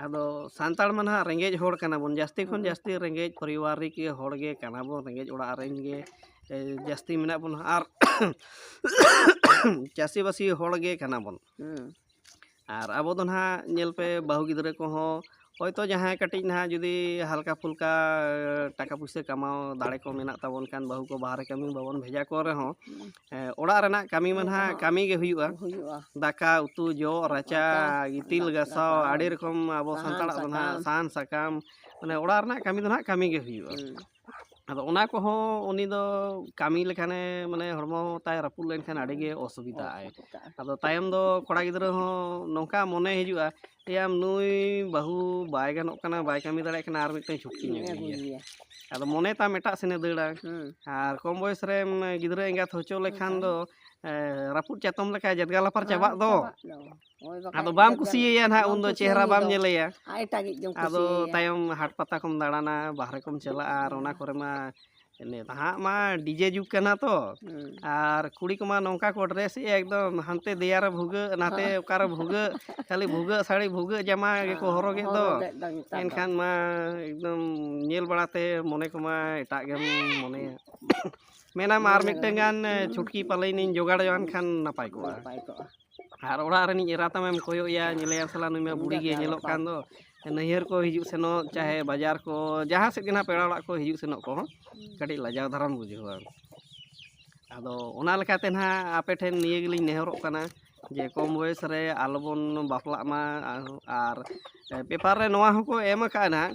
A: ᱟᱫᱚ ᱥᱟᱱᱛᱟᱲ ᱢᱟ ᱱᱟᱦᱟᱜ ᱨᱮᱸᱜᱮᱡ ᱦᱚᱲ ᱠᱟᱱᱟ ᱵᱚᱱ ᱡᱟᱹᱥᱛᱤ ᱠᱷᱚᱱ ᱡᱟᱹᱥᱛᱤ ᱨᱮᱸᱜᱮᱡ ᱯᱚᱨᱤᱵᱟᱨᱤᱠ ᱦᱚᱲ ᱜᱮ ᱠᱟᱱᱟ ᱵᱚᱱ ᱨᱮᱸᱜᱮᱡ ᱚᱲᱟᱜ ᱨᱮᱱ ᱜᱮ ᱡᱟᱹᱥᱛᱤ ᱢᱮᱱᱟᱜ ᱵᱚᱱᱟ ᱟᱨ ᱪᱟᱹᱥᱤᱵᱟᱹᱥᱤ ᱦᱚᱲ ᱜᱮ ᱠᱟᱱᱟ ᱵᱚᱱ ᱟᱨ ᱟᱵᱚ ᱫᱚ ᱱᱟᱦᱟᱜ ᱧᱮᱞ ᱯᱮ ᱵᱟᱹᱦᱩ ᱜᱤᱫᱽᱨᱟᱹ ᱠᱚᱦᱚᱸ ᱦᱳᱭᱛᱳ ᱡᱟᱦᱟᱸᱭ ᱠᱟᱹᱴᱤᱡ ᱱᱟᱦᱟᱜ ᱡᱩᱫᱤ ᱦᱟᱞᱠᱟ ᱯᱷᱩᱞᱠᱟ ᱴᱟᱠᱟ ᱯᱩᱭᱥᱟᱹ ᱠᱟᱢᱟᱣ ᱫᱟᱲᱮ ᱠᱚ ᱢᱮᱱᱟᱜ ᱛᱟᱵᱚᱱ ᱠᱷᱟᱱ ᱵᱟᱹᱦᱩ ᱠᱚ ᱵᱟᱦᱨᱮ ᱠᱟᱹᱢᱤ ᱵᱟᱵᱚᱱ ᱵᱷᱮᱡᱟ ᱠᱚ ᱨᱮᱦᱚᱸ ᱚᱲᱟᱜ ᱨᱮᱱᱟᱜ ᱠᱟᱹᱢᱤ ᱢᱟ ᱱᱟᱦᱟᱜ ᱠᱟᱹᱢᱤ ᱜᱮ ᱦᱩᱭᱩᱜᱼᱟ ᱦᱩᱭᱩᱜᱼᱟ ᱫᱟᱠᱟ ᱩᱛᱩ ᱡᱚᱜ ᱨᱟᱪᱟ ᱜᱤᱛᱤᱞ ᱜᱟᱥᱟᱣ ᱟᱹᱰᱤ ᱨᱚᱠᱚᱢ ᱟᱵᱚ ᱥᱟᱱᱛᱟᱲᱟᱜ ᱫᱚ ᱱᱟᱦᱟᱜ ᱥᱟᱦᱟᱱ ᱥᱟᱠᱟᱢ ᱢᱟᱱᱮ ᱚᱲᱟᱜ ᱨᱮᱱᱟᱜ ᱠᱟᱹᱢᱤ ᱫᱚ ᱱᱟᱦᱟᱜ ᱠᱟᱹᱢᱤ ᱜᱮ ᱦᱩᱭᱩᱜᱼᱟ ᱟᱫᱚ ᱚᱱᱟ ᱠᱚᱦᱚᱸ ᱩᱱᱤ ᱫᱚ ᱠᱟᱹᱢᱤ ᱞᱮᱠᱷᱟᱱᱮ ᱢᱟᱱᱮ ᱦᱚᱲᱢᱚ ᱛᱟᱭ ᱨᱟᱹᱯᱩᱫ ᱞᱮᱱᱠᱷᱟᱱ ᱟᱹᱰᱤ ᱜᱮ ᱚᱥᱩᱵᱤᱫᱷᱟᱜᱼᱟᱭ ᱟᱫᱚ ᱛᱟᱭᱚᱢ ᱫᱚ ᱠᱚᱲᱟ ᱜᱤᱫᱽᱨᱟᱹ ᱦᱚᱸ ᱱᱚᱝᱠᱟ ᱢᱚᱱᱮ ᱦᱤᱡᱩᱜᱼᱟ ᱮᱭᱟᱢ ᱱᱩᱭ ᱵᱟᱹᱦᱩ ᱵᱟᱭ ᱜᱟᱱᱚᱜ ᱠᱟᱱᱟ ᱵᱟᱭ ᱠᱟᱹᱢᱤ ᱫᱟᱲᱮᱭᱟᱜ ᱠᱟᱱᱟ ᱟᱨ ᱢᱤᱫᱴᱟᱝ ᱪᱷᱩᱴᱠᱤᱧ ᱟᱹᱜᱩᱭᱮᱭᱟ ᱟᱫᱚ ᱢᱚᱱᱮ ᱛᱟᱢ ᱮᱴᱟᱜ ᱥᱮᱱᱮ ᱫᱟᱹᱲᱟ ᱟᱨ ᱠᱚᱢ ᱵᱚᱭᱮᱥ ᱨᱮᱢ ᱜᱤᱫᱽᱨᱟᱹ ᱮᱸᱜᱟᱛ ᱦᱚᱪᱚ ᱞᱮᱠᱷᱟᱱ ᱫᱚ ᱨᱟᱹᱯᱩᱫ ᱪᱟᱛᱚᱢ ᱞᱮᱠᱟ ᱡᱟᱫᱜᱟ ᱞᱟᱯᱟᱨ ᱪᱟᱵᱟᱜ ᱫᱚ ᱟᱫᱚ ᱵᱟᱢ ᱠᱩᱥᱤᱭᱟᱭᱟ ᱱᱟᱦᱟᱜ ᱩᱱᱫᱚ ᱪᱮᱦᱨᱟ ᱵᱟᱢ ᱧᱮᱞᱮᱭᱟ ᱟᱫᱚ ᱛᱟᱭᱚᱢ ᱦᱟᱴ ᱯᱟᱛᱟ ᱠᱚᱢ ᱫᱟᱬᱟᱱᱟ ᱵᱟᱦᱨᱮ ᱠᱚᱢ ᱪᱟᱞᱟᱜᱼᱟ ᱟᱨ ᱚᱱᱟ ᱠᱚᱨᱮ ᱢᱟ ᱱᱟᱦᱟᱜ ᱢᱟ ᱰᱤᱡᱮ ᱡᱩᱜᱽ ᱠᱟᱱᱟ ᱛᱚ ᱟᱨ ᱠᱩᱲᱤ ᱠᱚᱢᱟ ᱱᱚᱝᱠᱟ ᱠᱚ ᱰᱨᱮᱥ ᱮᱫᱼᱟ ᱮᱠᱫᱚᱢ ᱦᱟᱱᱛᱮ ᱫᱮᱭᱟ ᱨᱮ ᱵᱷᱩᱜᱟᱹᱜ ᱱᱟᱛᱮ ᱚᱠᱟᱨᱮ ᱵᱷᱩᱜᱟᱹᱜ ᱠᱷᱟᱹᱞᱤ ᱵᱷᱩᱜᱟᱹᱜ ᱥᱟᱹᱲᱤ ᱵᱷᱩᱜᱟᱹᱜ ᱡᱟᱢᱟ ᱜᱮᱠᱚ ᱦᱚᱨᱚᱜᱽ ᱮᱫ ᱫᱚ ᱮᱱᱠᱷᱟᱱ ᱢᱟ ᱮᱠᱫᱚᱢ ᱧᱮᱞ ᱵᱟᱲᱟᱛᱮ ᱢᱚᱱᱮ ᱠᱚᱢᱟ ᱮᱴᱟᱜ ᱜᱮᱢ ᱢᱚᱱᱮᱭᱟ ᱢᱮᱱᱟᱢ ᱟᱨ ᱢᱤᱫᱴᱟᱝ ᱜᱟᱱ ᱪᱷᱩᱴᱠᱤ ᱯᱟᱞᱮᱱᱤᱧ ᱡᱚᱜᱟᱲ ᱡᱚᱝᱟᱱ ᱠᱷᱟᱱ ᱱᱟᱯᱟᱭ ᱠᱚᱜᱼᱟ ᱟᱨ ᱚᱲᱟᱜ ᱨᱤᱱᱤᱡ ᱮᱨᱟ ᱛᱟᱢᱮᱢ ᱠᱚᱭᱚᱜ ᱮᱭᱟ ᱧᱮᱞᱮᱭᱟᱢ ᱥᱟᱞᱟ ᱱᱩᱭ ᱢᱟ ᱵᱩᱲᱦᱤ ᱜᱮ ᱧᱮᱞᱚᱜ ᱠᱟᱱ ᱫᱚ ᱱᱟᱹᱭᱦᱟᱹᱨ ᱠᱚ ᱦᱤᱡᱩᱜ ᱥᱮᱱᱚᱜ ᱪᱟᱦᱮ ᱵᱟᱡᱟᱨ ᱠᱚ ᱡᱟᱦᱟᱸ ᱥᱮᱫ ᱜᱮ ᱱᱟᱦᱟᱜ ᱯᱮᱲᱟ ᱚᱲᱟᱜ ᱠᱚ ᱦᱤᱡᱩᱜ ᱥᱮᱱᱚᱜ ᱠᱚᱦᱚᱸ ᱠᱟᱹᱴᱤᱡ ᱞᱟᱡᱟᱣ ᱫᱷᱟᱨᱟᱢ ᱵᱩᱡᱷᱟᱹᱣᱟ ᱟᱫᱚ ᱚᱱᱟ ᱞᱮᱠᱟᱛᱮ ᱱᱟᱦᱟᱜ ᱟᱯᱮ ᱴᱷᱮᱱ ᱱᱤᱭᱟᱹ ᱜᱮᱞᱤᱧ ᱱᱮᱦᱚᱨᱚᱜ ᱠᱟᱱᱟ ᱡᱮ ᱠᱚᱢ ᱵᱚᱭᱮᱥ ᱨᱮ ᱟᱞᱚ ᱵᱚᱱ ᱵᱟᱯᱞᱟᱜ ᱢᱟ ᱟᱨ ᱯᱮᱯᱟᱨ ᱨᱮ ᱱᱚᱣᱟ ᱦᱚᱸᱠᱚ ᱮᱢ ᱟᱠᱟᱫᱼᱟ ᱱᱟᱦᱟᱜ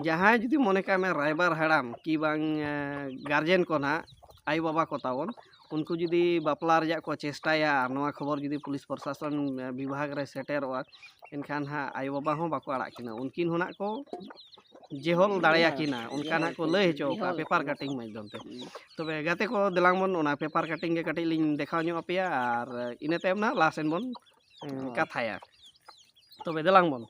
A: ᱡᱟᱦᱟᱸᱭ ᱡᱩᱫᱤ ᱢᱚᱱᱮ ᱠᱟᱜ ᱢᱮ ᱨᱟᱭᱵᱟᱨ ᱦᱟᱲᱟᱢ ᱠᱤ ᱵᱟᱝ ᱜᱟᱨᱡᱮᱱ ᱠᱚ ᱱᱟᱦᱟᱜ ᱟᱭᱳ ᱵᱟᱵᱟ ᱠᱚ ᱛᱟᱵᱚᱱ ᱩᱱᱠᱩ ᱡᱩᱫᱤ ᱵᱟᱯᱞᱟ ᱨᱮᱭᱟᱜ ᱠᱚ ᱪᱮᱥᱴᱟᱭᱟ ᱱᱚᱣᱟ ᱠᱷᱚᱵᱚᱨ ᱡᱩᱫᱤ ᱯᱩᱞᱤᱥ ᱯᱨᱚᱥᱟᱥᱚᱱ ᱵᱤᱵᱷᱟᱜᱽ ᱨᱮ ᱥᱮᱴᱮᱨᱚᱜᱼᱟ ᱮᱱᱠᱷᱟᱱ ᱦᱟᱸᱜ ᱟᱭᱳ ᱵᱟᱵᱟ ᱦᱚᱸ ᱵᱟᱠᱚ ᱟᱲᱟᱜ ᱠᱤᱱᱟ ᱩᱱᱠᱤᱱ ᱦᱚᱸ ᱦᱟᱸᱜ ᱠᱚ ᱡᱮᱦᱚᱞ ᱫᱟᱲᱮᱭᱟᱠᱤᱱᱟ ᱚᱱᱠᱟ ᱦᱟᱸᱜ ᱠᱚ ᱞᱟᱹᱭ ᱦᱚᱪᱚ ᱠᱟᱜᱼᱟ ᱯᱮᱯᱟᱨ ᱠᱟᱴᱤᱝ ᱢᱟᱫᱽᱫᱷᱚᱢ ᱛᱮ ᱛᱚᱵᱮ ᱜᱟᱛᱮ ᱠᱚ ᱫᱮᱞᱟᱝ ᱵᱚᱱ ᱚᱱᱟ ᱯᱮᱯᱟᱨ ᱠᱟᱴᱤᱝ ᱜᱮ ᱠᱟᱹᱴᱤᱡ ᱞᱤᱧ ᱫᱮᱠᱷᱟᱣ ᱧᱚᱜ ᱟᱯᱮᱭᱟ ᱟᱨ ᱤᱱᱟᱹ ᱛᱟᱭᱚᱢ ᱦᱟᱸᱜ ᱞᱟᱦᱟ ᱥᱮᱱ ᱵᱚᱱ ᱠᱟᱛᱷᱟᱭᱟ ᱛᱚᱵᱮ ᱫᱮᱞᱟᱝ ᱵᱚᱱ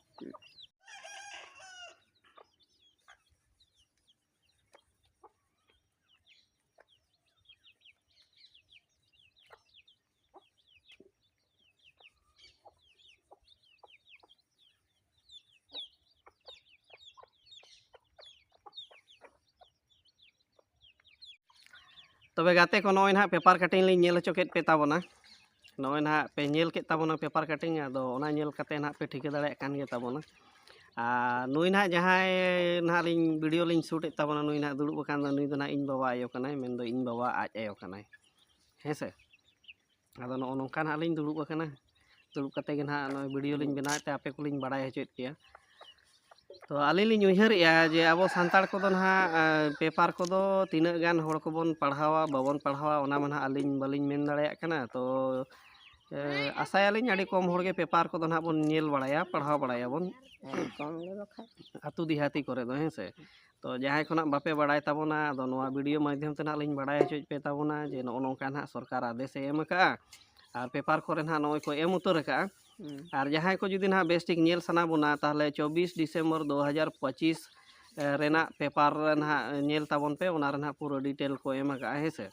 A: ᱛᱚᱵᱮ ᱜᱟᱛᱮ ᱠᱚ ᱱᱚᱜᱼᱚᱭ ᱱᱟᱦᱟᱜ ᱯᱮᱯᱟᱨ ᱠᱟᱴᱤᱝ ᱞᱤᱧ ᱧᱮᱞ ᱦᱚᱪᱚ ᱠᱮᱫ ᱯᱮ ᱛᱟᱵᱚᱱᱟ ᱱᱚᱜᱼᱚᱭ ᱱᱟᱦᱟᱜ ᱯᱮ ᱧᱮᱞ ᱠᱮᱫ ᱛᱟᱵᱚᱱᱟ ᱯᱮᱯᱟᱨ ᱠᱟᱴᱤᱝ ᱟᱫᱚ ᱚᱱᱟ ᱧᱮᱞ ᱠᱟᱛᱮᱫ ᱱᱟᱦᱟᱜ ᱯᱮ ᱴᱷᱤᱠᱟᱹ ᱫᱟᱲᱮᱭᱟᱜ ᱠᱟᱱ ᱜᱮ ᱛᱟᱵᱚᱱᱟ ᱟᱨ ᱱᱩᱭ ᱱᱟᱦᱟᱜ ᱡᱟᱦᱟᱸᱭ ᱱᱟᱦᱟᱜ ᱞᱤᱧ ᱵᱷᱤᱰᱭᱳ ᱞᱤᱧ ᱥᱩᱴ ᱮᱫ ᱛᱟᱵᱚᱱᱟ ᱱᱩᱭ ᱱᱟᱦᱟᱜ ᱫᱩᱲᱩᱵ ᱟᱠᱟᱱ ᱫᱚ ᱱᱩᱭ ᱫᱚ ᱱᱟᱦᱟᱜ ᱤᱧ ᱵᱟᱵᱟ ᱟᱭᱳ ᱠᱟᱱᱟᱭ ᱢᱮᱱᱫᱚ ᱤᱧ ᱵᱟᱵᱟ ᱟᱡ ᱟᱭᱳ ᱠᱟᱱᱟᱭ ᱦᱮᱸ ᱥᱮ ᱟᱫᱚ ᱱᱚᱜᱼᱚ ᱱᱚᱝᱠᱟ ᱱᱟᱦᱟᱜ ᱞᱤᱧ ᱫᱩᱲᱩᱵ ᱟᱠᱟᱱᱟ ᱫᱩᱲᱩᱵ ᱠᱟᱛᱮᱫ ᱜᱮ ᱱᱟᱦᱟᱜ ᱱᱚᱜᱼᱚᱭ ᱵᱷᱤᱰᱭᱳ ᱞᱤᱧ ᱵᱮᱱᱟᱣᱮᱫ ᱛᱮ ᱟᱯᱮ ᱠᱚᱞᱤᱧ ᱵᱟᱲᱟᱭ ᱦᱚᱪᱚᱭᱮᱫ ᱯᱮᱭᱟ ᱛᱚ ᱟᱹᱞᱤᱧ ᱞᱤᱧ ᱩᱭᱦᱟᱹᱨᱮᱜᱼᱟ ᱡᱮ ᱟᱵᱚ ᱥᱟᱱᱛᱟᱲ ᱠᱚᱫᱚ ᱱᱟᱦᱟᱜ ᱯᱮᱯᱟᱨ ᱠᱚᱫᱚ ᱛᱤᱱᱟᱹᱜ ᱜᱟᱱ ᱦᱚᱲ ᱠᱚᱵᱚᱱ ᱯᱟᱲᱦᱟᱣᱟ ᱵᱟᱵᱚᱱ ᱯᱟᱲᱦᱟᱣᱟ ᱚᱱᱟ ᱢᱟ ᱱᱟᱦᱟᱜ ᱟᱹᱞᱤᱧ ᱵᱟᱹᱞᱤᱧ ᱢᱮᱱ ᱫᱟᱲᱮᱭᱟᱜ ᱠᱟᱱᱟ ᱛᱚ ᱟᱥᱟᱭᱟᱞᱤᱧ ᱟᱹᱰᱤ ᱠᱚᱢ ᱦᱚᱲᱜᱮ ᱯᱮᱯᱟᱨ ᱠᱚᱫᱚ ᱱᱟᱦᱟᱜ ᱵᱚᱱ ᱧᱮᱞ ᱵᱟᱲᱟᱭᱟ ᱯᱟᱲᱦᱟᱣ ᱵᱟᱲᱟᱭᱟᱵᱚᱱ ᱟᱹᱛᱩ ᱫᱮᱦᱟᱛᱤ ᱠᱚᱨᱮ ᱫᱚ ᱦᱮᱸ ᱥᱮ ᱛᱚ ᱡᱟᱦᱟᱸᱭ ᱠᱷᱚᱱᱟᱜ ᱵᱟᱯᱮ ᱵᱟᱲᱟᱭ ᱛᱟᱵᱚᱱᱟ ᱟᱫᱚ ᱱᱚᱣᱟ ᱵᱷᱤᱰᱤᱭᱳ ᱢᱟᱫᱽᱫᱷᱚᱢ ᱛᱮ ᱱᱟᱦᱟᱜ ᱞᱤᱧ ᱵᱟᱲᱟᱭ ᱦᱚᱪᱚᱭᱮᱫ ᱯᱮ ᱛᱟᱵᱚᱱᱟ ᱡᱮ ᱱᱚᱜᱼᱚ ᱱᱚᱝᱠᱟ ᱱᱟᱦᱟᱜ ᱥᱚᱨᱠᱟᱨ ᱟᱫᱮᱥᱮ ᱮᱢ ᱟᱠᱟᱫᱼᱟ ᱟᱨ ᱯᱮᱯᱟᱨ ᱠᱚᱨᱮ ᱱᱟᱦᱟᱜ ᱱᱚᱜᱼᱚᱭ ᱠᱚ ᱮᱢ ᱩᱛᱟᱹᱨ ᱟᱠᱟᱫᱼᱟ ᱟᱨ ᱡᱟᱦᱟᱸᱭ ᱠᱚ ᱡᱩᱫᱤ ᱱᱟᱦᱟᱜ ᱵᱮᱥ ᱴᱷᱤᱠ ᱧᱮᱞ ᱥᱟᱱᱟ ᱵᱚᱱᱟ ᱛᱟᱦᱚᱞᱮ ᱪᱚᱵᱽᱵᱤᱥ ᱰᱤᱥᱮᱢᱵᱚᱨ ᱫᱩ ᱦᱟᱡᱟᱨ ᱯᱚᱸᱪᱤᱥ ᱨᱮᱱᱟᱜ ᱯᱮᱯᱟᱨ ᱨᱮ ᱱᱟᱦᱟᱜ ᱧᱮᱞ ᱛᱟᱵᱚᱱ ᱯᱮ ᱚᱱᱟ ᱨᱮ ᱱᱟᱦᱟᱜ ᱯᱩᱨᱟᱹ ᱰᱤᱴᱮᱞ ᱠᱚ ᱮᱢ ᱟᱠᱟᱜᱼᱟ ᱦᱮᱸ ᱥᱮ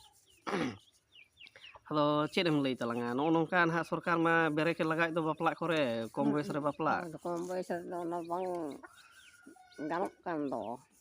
A: ᱟᱫᱚ ᱪᱮᱫ ᱮᱢ ᱞᱟᱹᱭ ᱛᱟᱞᱟᱝᱟ ᱱᱚᱜᱼᱚ ᱱᱚᱝᱠᱟ ᱱᱟᱦᱟᱜ ᱥᱚᱨᱠᱟᱨ ᱢᱟ ᱵᱮᱨᱮᱠ ᱮ ᱞᱟᱜᱟᱣᱮᱫ ᱫᱚ ᱵᱟᱯᱞᱟᱜ ᱠᱚᱨᱮ ᱠᱚᱢ ᱵᱚᱭᱮᱥ ᱨᱮ ᱵᱟᱯᱞᱟᱜ ᱟᱫᱚ ᱠᱚᱢ ᱵᱚᱭᱮᱥ ᱨᱮᱫᱚ
B: ᱚᱱᱟ ᱵᱟᱝ ᱜᱟᱱᱚᱜ ᱠᱟᱱ ᱫᱚ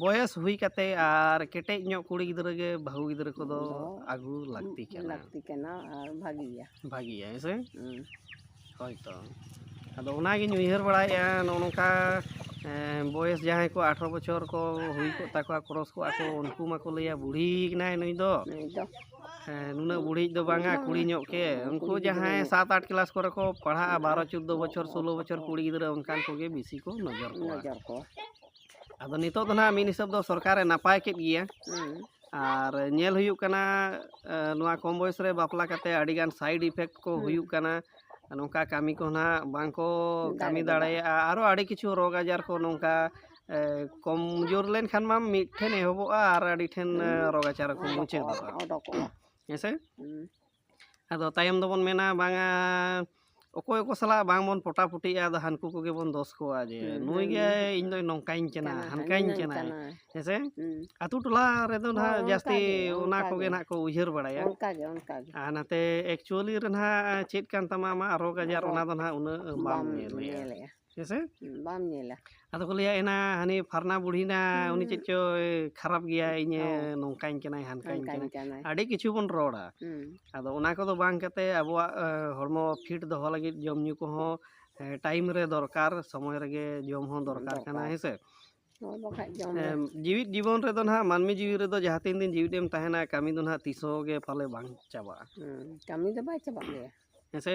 A: ᱵᱚᱭᱮᱥ ᱦᱩᱭ ᱠᱟᱛᱮ ᱟᱨ ᱠᱮᱴᱮᱡ ᱧᱚᱜ ᱠᱩᱲᱤ ᱜᱤᱫᱽᱨᱟᱹ ᱜᱮ ᱵᱟᱹᱦᱩ ᱜᱤᱫᱽᱨᱟᱹ ᱠᱚᱫᱚ ᱟᱹᱜᱩ ᱞᱟᱹᱠᱛᱤ ᱠᱟᱱᱟ ᱞᱟᱹᱠᱛᱤ ᱠᱟᱱᱟ
B: ᱟᱨ ᱵᱷᱟᱹᱜᱤᱭᱟ ᱵᱷᱟᱹᱜᱤᱭᱟ ᱦᱮᱸ
A: ᱥᱮ ᱦᱩᱸ ᱦᱳᱭ ᱛᱚ ᱟᱫᱚ ᱚᱱᱟᱜᱤᱧ ᱩᱭᱦᱟᱹᱨ ᱵᱟᱲᱟᱭᱮᱫᱼᱟ ᱱᱚᱜᱼᱚ ᱱᱚᱝᱠᱟ ᱮᱸ, ᱵᱚᱭᱮᱥ ᱡᱟᱦᱟᱸᱭ ᱠᱚ ᱟᱴᱷᱨᱚ ᱵᱚᱪᱷᱚᱨ ᱠᱚ ᱦᱩᱭ ᱠᱚᱜ ᱛᱟᱠᱚᱣᱟ ᱠᱨᱚᱥ ᱠᱚᱜᱼᱟ ᱠᱚ ᱩᱱᱠᱩ ᱢᱟᱠᱚ ᱞᱟᱹᱭᱟ ᱵᱩᱲᱦᱤ ᱠᱟᱱᱟᱭ ᱱᱩᱭ ᱫᱚ ᱱᱩᱭ ᱫᱚ ᱦᱮᱸ, ᱱᱩᱱᱟᱹᱜ ᱵᱩᱲᱦᱤᱡ ᱫᱚ ᱵᱟᱝᱟ ᱠᱩᱲᱤ ᱧᱚᱜ ᱜᱮ ᱩᱱᱠᱩ ᱡᱟᱦᱟᱸᱭ ᱥᱟᱛ ᱟᱴ ᱠᱮᱞᱟᱥ ᱠᱚᱨᱮ ᱠᱚ ᱯᱟᱲᱦᱟᱜᱼᱟ ᱵᱟᱨᱚ ᱪᱳᱫᱽᱫᱳ ᱵᱚᱪᱷᱚᱨ ᱥᱳᱞᱳ ᱵᱚᱪᱷᱚᱨ ᱠᱩᱲᱤ ᱜᱤᱫᱽᱨᱟᱹ ᱚᱱᱠᱟᱱ ᱠᱚᱜᱮ ᱵᱤᱥᱤ ᱠᱚ ᱱᱚᱡᱚᱨ ᱠᱚᱣᱟ ᱱᱚᱡᱚᱨ ᱠᱚ ᱟᱫᱚ ᱱᱤᱛᱚᱜ ᱫᱚ ᱱᱟᱦᱟᱜ ᱢᱤᱫ ᱦᱤᱥᱟᱹᱵ ᱫᱚ ᱥᱚᱨᱠᱟᱨᱮ ᱱᱟᱯᱟᱭ ᱠᱮᱫ ᱜᱮᱭᱟ ᱟᱨ ᱧᱮᱞ ᱦᱩᱭᱩᱜ ᱠᱟᱱᱟ ᱱᱚᱣᱟ ᱠᱚᱢ ᱵᱚᱭᱚᱥ ᱨᱮ ᱵᱟᱯᱞᱟ ᱠᱟᱛᱮ ᱟᱹᱰᱤ ᱜᱟᱱ ᱥᱟᱭᱤᱰ ᱤᱯᱷᱮᱠᱴ ᱠᱚ ᱦᱩᱭᱩᱜ ᱠᱟᱱᱟ ᱱᱚᱝᱠᱟ ᱠᱟᱹᱢᱤ ᱠᱚ ᱱᱟᱦᱟᱜ ᱵᱟᱝ ᱠᱚ ᱠᱟᱹᱢᱤ ᱫᱟᱲᱮᱭᱟᱜᱼᱟ ᱟᱨᱚ ᱟᱹᱰᱤ ᱠᱤᱪᱷᱩ ᱨᱳᱜᱽ ᱟᱡᱟᱨ ᱠᱚ ᱱᱚᱝᱠᱟ ᱠᱚᱢ ᱡᱳᱨ ᱞᱮᱱᱠᱷᱟᱱ ᱢᱟ ᱢᱤᱫ ᱴᱷᱮᱱ ᱮᱦᱚᱵᱚᱜᱼᱟ ᱟᱨ ᱟᱹᱰᱤ ᱴᱷᱮᱱ ᱨᱳᱜᱽ ᱟᱡᱟᱨ ᱠᱚ ᱢᱩᱪᱟᱹᱫᱚᱜᱼᱟ ᱦᱮᱸᱥᱮ ᱟᱫᱚ ᱛᱟᱭᱚᱢ ᱫᱚᱵᱚᱱ ᱢᱮᱱᱟ ᱵᱟᱝᱟ ᱚᱠᱚᱭ ᱚᱠᱚᱭ ᱥᱟᱞᱟᱜ ᱵᱟᱝ ᱵᱚᱱ ᱯᱚᱴᱟ ᱯᱩᱴᱤᱜᱼᱟ ᱟᱫᱚ ᱦᱟᱹᱱᱠᱩ ᱠᱚᱜᱮ ᱵᱚᱱ ᱫᱳᱥ ᱠᱚᱣᱟ ᱡᱮ ᱱᱩᱭ ᱜᱮ ᱤᱧ ᱫᱚᱭ ᱱᱚᱝᱠᱟᱧ ᱠᱟᱱᱟ ᱦᱟᱱᱠᱟᱧ ᱠᱟᱱᱟ ᱦᱮᱸ ᱥᱮ ᱟᱛᱳ ᱴᱚᱞᱟ ᱨᱮᱫᱚ ᱱᱟᱦᱟᱜ ᱡᱟᱹᱥᱛᱤ ᱚᱱᱟ ᱠᱚᱜᱮ ᱱᱟᱦᱟᱜ ᱠᱚ ᱩᱭᱦᱟᱹᱨ ᱵᱟᱲᱟᱭᱟ ᱟᱨ
B: ᱱᱟᱛᱮ ᱮᱠᱪᱩᱭᱮᱞᱤ
A: ᱨᱮ ᱱᱟᱦᱟᱜ ᱪᱮᱫ ᱠᱟᱱ ᱛᱟᱢᱟ ᱟᱢᱟᱜ ᱨᱳᱜᱽ ᱟᱡᱟᱨ ᱚᱱᱟ ᱫᱚ ᱱᱟᱦᱟᱜ ᱩᱱᱟᱹᱜ ᱵᱟᱢ ᱧᱮᱞᱮᱜᱼᱟ ᱦᱮᱸᱥᱮ ᱵᱟᱢ ᱧᱮᱞᱟ
B: ᱟᱫᱚ ᱠᱚ ᱞᱟᱹᱭᱟ ᱮᱱᱟ
A: ᱦᱟᱹᱱᱤ ᱯᱷᱟᱨᱱᱟ ᱵᱩᱲᱦᱤᱱᱟ ᱩᱱᱤ ᱪᱮᱫ ᱪᱚᱭ ᱠᱷᱟᱨᱟᱯ ᱜᱮᱭᱟ ᱤᱧᱮ ᱱᱚᱝᱠᱟᱧ ᱠᱟᱱᱟᱭ ᱦᱟᱱᱠᱟᱧ ᱠᱟᱱᱟᱭ ᱟᱹᱰᱤ ᱠᱤᱪᱷᱩ ᱵᱚᱱ ᱨᱚᱲᱟ ᱟᱫᱚ ᱚᱱᱟ ᱠᱚᱫᱚ ᱵᱟᱝ ᱠᱟᱛᱮ ᱟᱵᱚᱣᱟᱜ ᱦᱚᱲᱢᱚ ᱯᱷᱤᱴ ᱫᱚᱦᱚ ᱞᱟᱹᱜᱤᱫ ᱡᱚᱢ ᱧᱩ ᱠᱚᱦᱚᱸ ᱴᱟᱭᱤᱢ ᱨᱮ ᱫᱚᱨᱠᱟᱨ ᱥᱚᱢᱚᱭ ᱨᱮᱜᱮ ᱡᱚᱢ ᱦᱚᱸ ᱫᱚᱨᱠᱟᱨ ᱠᱟᱱᱟ ᱦᱮᱸᱥᱮ ᱡᱤᱣᱤᱫ ᱡᱤᱵᱚᱱ ᱨᱮᱫᱚ ᱱᱟᱦᱟᱜ ᱢᱟᱹᱱᱢᱤ ᱡᱤᱣᱤ ᱨᱮᱫᱚ ᱡᱟᱦᱟᱸ ᱛᱤᱱ ᱫᱤᱱ ᱡᱤᱣᱤᱫ ᱮᱢ ᱛᱟᱦᱮᱱᱟ ᱠᱟᱹᱢᱤ ᱫᱚ ᱱᱟᱦᱟᱜ ᱛᱤᱥ ᱦᱚᱸ ᱜᱮ ᱯᱟᱞᱮ ᱵᱟᱝ ᱪᱟᱵᱟᱜᱼᱟ ᱠᱟᱹᱢᱤ ᱫᱚ
B: ᱵᱟᱭ ᱪᱟᱵᱟᱜ ᱜᱮᱭᱟ ᱦᱮᱸᱥᱮ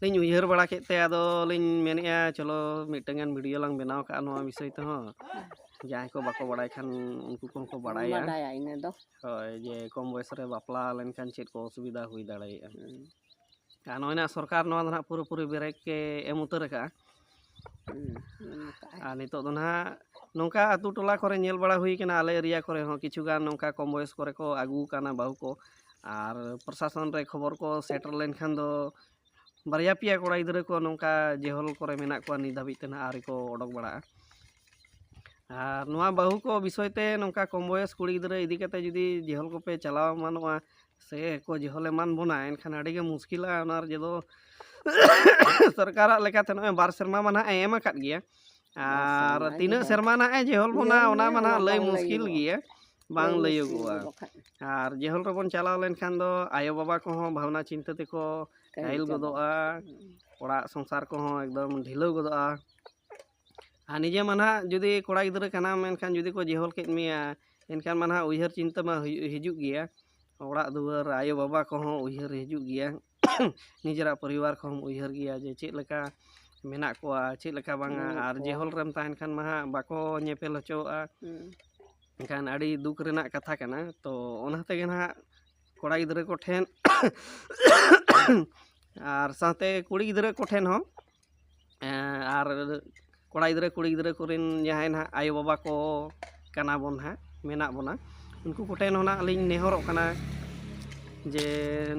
A: ᱞᱤᱧ ᱩᱭᱦᱟᱹᱨ ᱵᱟᱲᱟ ᱠᱮᱫ ᱛᱮ ᱟᱫᱚ ᱞᱤᱧ ᱢᱮᱱᱮᱫᱼᱟ ᱪᱚᱞᱚ ᱢᱤᱫᱴᱟᱹᱝ ᱜᱟᱱ ᱵᱷᱤᱰᱭᱳ ᱞᱟᱝ ᱵᱮᱱᱟᱣ ᱠᱟᱜᱼᱟ ᱱᱚᱣᱟ ᱵᱤᱥᱚᱭ ᱛᱮᱦᱚᱸ ᱡᱟᱦᱟᱸᱭ ᱠᱚ ᱵᱟᱠᱚ ᱵᱟᱲᱟᱭ ᱠᱷᱟᱱ ᱩᱱᱠᱩ ᱠᱚᱦᱚᱸ ᱠᱚ ᱵᱟᱲᱟᱭᱟ ᱵᱟᱰᱟᱭᱟ ᱤᱱᱟᱹ ᱫᱚ
B: ᱦᱳᱭ ᱡᱮ ᱠᱚᱢ
A: ᱵᱚᱭᱮᱥ ᱨᱮ ᱵᱟᱯᱞᱟ ᱞᱮᱱᱠᱷᱟᱱ ᱪᱮᱫ ᱠᱚ ᱚᱥᱩᱵᱤᱫᱟ ᱦᱩᱭ ᱫᱟᱲᱮᱭᱟᱜᱼᱟ ᱟᱨ ᱱᱚᱜᱼᱚᱭ ᱱᱟ ᱥᱚᱨᱠᱟᱨ ᱱᱚᱣᱟ ᱫᱚ ᱱᱟᱦᱟᱜ ᱯᱩᱨᱟᱹᱯᱩᱨᱤ ᱵᱨᱮᱠ ᱮ ᱮᱢ ᱩᱛᱟᱹᱨ ᱟᱠᱟᱜᱼᱟ ᱟᱨ ᱱᱤᱛᱚᱜ ᱫᱚ ᱱᱟᱦᱟᱜ ᱱᱚᱝᱠᱟ ᱟᱛᱳ ᱴᱚᱞᱟ ᱠᱚᱨᱮ ᱧᱮᱞ ᱵᱟᱲᱟ ᱦᱩᱭ ᱠᱟᱱᱟ ᱟᱞᱮ ᱮᱨᱤᱭᱟ ᱠᱚᱨᱮ ᱦᱚᱸ ᱠᱤᱪᱷᱩ ᱜᱟᱱ ᱱᱚᱝᱠᱟ ᱠᱚᱢ ᱵᱚᱭᱚᱥ ᱠᱚᱨᱮ ᱠᱚ ᱟᱹᱜᱩ ᱠᱟᱣᱱᱟ ᱵᱟᱹᱦᱩ ᱠᱚ ᱟᱨ ᱯᱨᱚᱥᱟᱥᱚᱱ ᱨᱮ ᱠᱷᱚᱵᱚᱨ ᱠᱚ ᱥᱮᱴᱮᱨ ᱞᱮᱱᱠᱷᱟᱱ ᱫᱚ ᱵᱟᱨᱭᱟ ᱯᱮᱭᱟ ᱠᱚᱲᱟ ᱜᱤᱫᱽᱨᱟᱹ ᱠᱚ ᱱᱚᱝᱠᱟ ᱡᱮᱦᱚᱞ ᱠᱚᱨᱮ ᱢᱮᱱᱟᱜ ᱠᱚᱣᱟ ᱱᱤᱛ ᱫᱷᱟᱹᱵᱤᱡ ᱛᱮ ᱱᱟᱦᱟᱜ ᱟᱹᱣᱨᱤ ᱠᱚ ᱚᱰᱚᱠ ᱵᱟᱲᱟᱜᱼᱟ ᱟᱨ ᱱᱚᱣᱟ ᱵᱟᱹᱦᱩ ᱠᱚ ᱵᱤᱥᱚᱭ ᱛᱮ ᱱᱚᱝᱠᱟ ᱠᱚᱢ ᱵᱚᱭᱚᱥ ᱠᱩᱲᱤ ᱜᱤᱫᱽᱨᱟᱹ ᱤᱫᱤ ᱠᱟᱛᱮ ᱡᱩᱫᱤ ᱡᱮᱦᱚᱞ ᱠᱚᱯᱮ ᱪᱟᱞᱟᱣ ᱮᱢᱟᱱᱚᱜᱼᱟ ᱥᱮ ᱠᱚ ᱡᱚᱦᱚᱞ ᱮᱢᱟᱱ ᱵᱚᱱᱟ ᱮᱱᱠᱷᱟᱱ ᱟᱹᱰᱤ ᱜᱮ ᱢᱩᱥᱠᱤᱞᱟ ᱚᱱᱟ ᱨᱮ ᱡᱮᱫᱚ ᱥᱚᱨᱠᱟᱨᱟᱜ ᱞᱮᱠᱟᱛᱮ ᱱᱚᱜᱼᱚᱭ ᱵᱟᱨ ᱥᱮᱨᱢᱟ ᱢᱟ ᱱᱟᱦᱟᱜ ᱮᱢ ᱟᱠᱟᱫ ᱜᱮᱭᱟ ᱟᱨ ᱛᱤᱱᱟᱹᱜ ᱥᱮᱨᱢᱟ ᱱᱟᱦᱟᱜ ᱮ ᱡᱮᱦᱚᱞ ᱵᱚᱱᱟ ᱚᱱᱟ ᱢᱟ ᱱᱟᱦᱟᱜ ᱞᱟᱹᱭ ᱢᱩᱥᱠᱤᱞ ᱜᱮᱭᱟ ᱵᱟᱝ ᱞᱟᱹᱭᱚᱜᱚᱜᱼᱟ ᱟᱨ ᱡᱮᱦᱚᱞ ᱨᱮᱵᱚᱱ ᱪᱟᱞᱟᱣ ᱞᱮᱱᱠᱷᱟᱱ ᱫᱚ ᱟᱭᱳᱼᱵᱟᱵᱟ ᱠᱚᱦᱚᱸ ᱵᱷᱟᱵᱽᱱᱟ ᱪᱤᱱᱛᱟᱹ ᱛᱮᱠᱚ ᱠᱟᱹᱦᱤᱞ ᱜᱚᱫᱚᱜᱼᱟ ᱚᱲᱟᱜ ᱥᱚᱝᱥᱟᱨ ᱠᱚᱦᱚᱸ ᱮᱠᱫᱚᱢ ᱰᱷᱤᱞᱟᱹᱣ ᱜᱚᱫᱚᱜᱼᱟ ᱟᱨ ᱱᱤᱡᱮ ᱢᱟ ᱱᱟᱦᱟᱜ ᱡᱩᱫᱤ ᱠᱚᱲᱟ ᱜᱤᱫᱽᱨᱟᱹ ᱠᱟᱱᱟᱢ ᱢᱮᱱᱠᱷᱟᱱ ᱡᱩᱫᱤ ᱠᱚ ᱡᱮᱦᱚᱞ ᱠᱮᱫ ᱢᱮᱭᱟ ᱮᱱᱠᱷᱟᱱ ᱢᱟ ᱱᱟᱦᱟᱜ ᱩᱭᱦᱟᱹᱨ ᱪᱤᱱᱛᱟᱹ ᱢᱟ ᱦᱤᱡᱩᱜ ᱜᱮᱭᱟ ᱚᱲᱟᱜ ᱫᱩᱣᱟᱹᱨ ᱟᱭᱳ ᱵᱟᱵᱟ ᱠᱚᱦᱚᱸ ᱩᱭᱦᱟᱹᱨ ᱦᱤᱡᱩᱜ ᱜᱮᱭᱟ ᱱᱤᱡᱮᱨᱟᱜ ᱯᱚᱨᱤᱵᱟᱨ ᱠᱚᱦᱚᱸᱢ ᱩᱭᱦᱟᱹᱨ ᱜᱮᱭᱟ ᱡᱮ ᱪᱮᱫ ᱞᱮᱠᱟ ᱢᱮᱱᱟᱜ ᱠᱚᱣᱟ ᱪᱮᱫ ᱞᱮᱠᱟ ᱵᱟᱝᱟ ᱟᱨ ᱡᱮᱦᱚᱞ ᱨᱮᱢ ᱛᱟᱦᱮᱱ ᱠᱷᱟᱱ ᱢᱟ ᱦᱟᱸᱜ ᱵᱟᱠᱚ ᱧᱮᱯᱮᱞ ᱦᱚᱪᱚᱣᱟᱜᱼᱟ ᱮᱱᱠᱷᱟᱱ ᱟᱹᱰᱤ ᱫᱩᱠ ᱨᱮᱱᱟᱜ ᱠᱟᱛᱷᱟ ᱠᱟᱱᱟ ᱛᱚ ᱚᱱᱟ ᱛᱮᱜᱮ ᱱᱟᱦᱟᱜ ᱠᱚᱲᱟ ᱜᱤᱫᱽᱨᱟᱹ ᱠᱚᱴᱷᱮᱱ ᱟᱨ ᱥᱟᱶᱛᱮ ᱠᱩᱲᱤ ᱜᱤᱫᱽᱨᱟᱹ ᱠᱚᱴᱷᱮᱱ ᱦᱚᱸ ᱟᱨ ᱠᱚᱲᱟ ᱜᱤᱫᱽᱨᱟᱹ ᱠᱩᱲᱤ ᱜᱤᱫᱽᱨᱟᱹ ᱠᱚᱨᱮᱱ ᱡᱟᱦᱟᱸᱭ ᱱᱟᱜ ᱟᱭᱳ ᱵᱟᱵᱟ ᱠᱚ ᱠᱟᱱᱟ ᱵᱚᱱ ᱦᱟᱸᱜ ᱢᱮᱱᱟᱜ ᱵᱚᱱᱟ ᱩᱱᱠᱩ ᱠᱚᱴᱷᱮᱱ ᱦᱚᱸ ᱱᱟᱜ ᱞᱤᱧ ᱱᱮᱦᱚᱨᱚᱜ ᱠᱟᱱᱟ ᱡᱮ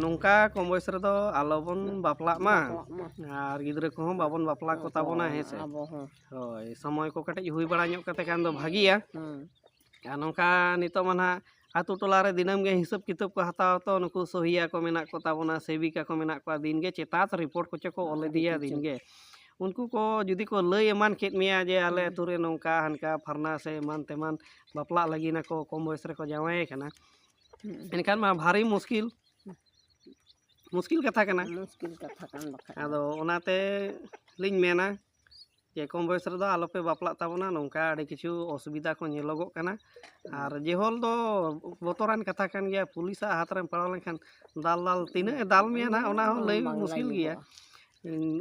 A: ᱱᱚᱝᱠᱟ ᱠᱚᱢ ᱵᱚᱭᱮᱥ ᱨᱮᱫᱚ ᱟᱞᱚ ᱵᱚᱱ ᱵᱟᱯᱞᱟᱜ ᱢᱟ ᱟᱨ ᱜᱤᱫᱽᱨᱟᱹ ᱠᱚᱦᱚᱸ ᱵᱟᱵᱚᱱ ᱵᱟᱯᱞᱟ ᱠᱚᱛᱟ ᱵᱚᱱᱟ ᱦᱮᱸ ᱥᱮ ᱦᱳᱭ ᱥᱚᱢᱚᱭ ᱠᱚ ᱠᱟᱹᱴᱤᱡ ᱦᱩᱭ ᱵᱟᱲᱟ ᱧᱚᱜ ᱠᱟᱛᱮ ᱠᱷᱟᱱ ᱫᱚ ᱵᱷᱟᱹᱜᱤᱭᱟ ᱟᱨ ᱱᱚᱝᱠᱟ ᱱᱤᱛᱚᱜ ᱢᱟ ᱱᱟᱦᱟᱜ ᱟᱛᱳ ᱴᱚᱞᱟ ᱨᱮ ᱫᱤᱱᱟᱹᱢ ᱜᱮ ᱦᱤᱥᱟᱹᱵ ᱠᱤᱛᱟᱹᱵ ᱠᱚ ᱦᱟᱛᱟᱣᱟ ᱛᱚ ᱱᱩᱠᱩ ᱥᱚᱦᱤᱭᱟ ᱠᱚ ᱢᱮᱱᱟᱜ ᱠᱚᱛᱟ ᱵᱚᱱᱟ ᱥᱮᱵᱤᱠᱟ ᱠᱚ ᱢᱮᱱᱟᱜ ᱠᱚᱣᱟ ᱫᱤᱱ ᱜᱮ ᱪᱮᱛᱟᱛ ᱨᱤᱯᱳᱨᱴ ᱠᱚᱪᱚ ᱠᱚ ᱚᱞ ᱤᱫᱤᱭᱟ ᱫᱤᱱ ᱜᱮ ᱩᱱᱠᱩ ᱠᱚ ᱡᱩᱫᱤ ᱠᱚ ᱞᱟᱹᱭ ᱮᱢᱟᱱ ᱠᱮᱫ ᱢᱮᱭᱟ ᱡᱮ ᱟᱞᱮ ᱟᱛᱳ ᱨᱮ ᱱᱚᱝᱠᱟ ᱦᱟᱱᱠᱟ ᱯᱷᱟᱨᱱᱟ ᱥᱮ ᱮᱢᱟᱱ ᱛᱮᱢᱟᱱ ᱵᱟᱯᱞᱟᱜ ᱞᱟᱹᱜᱤᱫ ᱟᱠᱚ ᱠᱚᱢ ᱵᱚᱭᱮᱥ ᱨᱮᱠᱚ ᱡᱟᱶᱟᱭᱮ ᱠᱟᱱᱟ ᱮᱱᱠᱷᱟᱱ ᱢᱟ ᱵᱷᱟᱨᱤ ᱢᱩᱥᱠᱤᱞ ᱢᱩᱥᱠᱤᱞ ᱠᱟᱛᱷᱟ ᱠᱟᱱᱟ ᱢᱩᱥᱠᱤᱞ ᱠᱟᱛᱷᱟ ᱠᱟᱱ ᱵᱟᱠᱷᱟᱡ ᱟᱫᱚ ᱚᱱᱟᱛᱮ ᱞᱤᱧ ᱢᱮᱱᱟ ᱡᱮ ᱠᱚᱢ ᱵᱚᱭᱮᱥ ᱨᱮᱫᱚ ᱟᱞᱚ ᱯᱮ ᱵᱟᱯᱞᱟᱜ ᱛᱟᱵᱚᱱᱟ ᱱᱚᱝᱠᱟ ᱟᱹᱰᱤ ᱠᱤᱪᱷᱩ ᱚᱥᱩᱵᱤᱫᱟ ᱠᱚ ᱧᱮᱞᱚᱜᱚᱜ ᱠᱟᱱᱟ ᱟᱨ ᱡᱮᱦᱚᱞ ᱫᱚ ᱵᱚᱛᱚᱨᱟᱱ ᱠᱟᱛᱷᱟ ᱠᱟᱱ ᱜᱮᱭᱟ ᱯᱩᱞᱤᱥᱟᱜ ᱦᱟᱛ ᱨᱮᱢ ᱯᱟᱲᱟᱣ ᱞᱮᱱᱠᱷᱟᱱ ᱫᱟᱞ ᱫᱟᱞ ᱛᱤᱱᱟᱹᱜ ᱮ ᱫᱟᱞ ᱢᱮᱭᱟ ᱱᱟᱦᱟᱜ ᱚᱱᱟ ᱦᱚᱸ ᱞᱟᱹᱭ ᱵᱟᱝ ᱢᱩᱥᱠᱤᱞ ᱞᱟᱹᱭᱚᱜᱚᱜᱼᱟ᱾ ᱜᱮᱭᱟ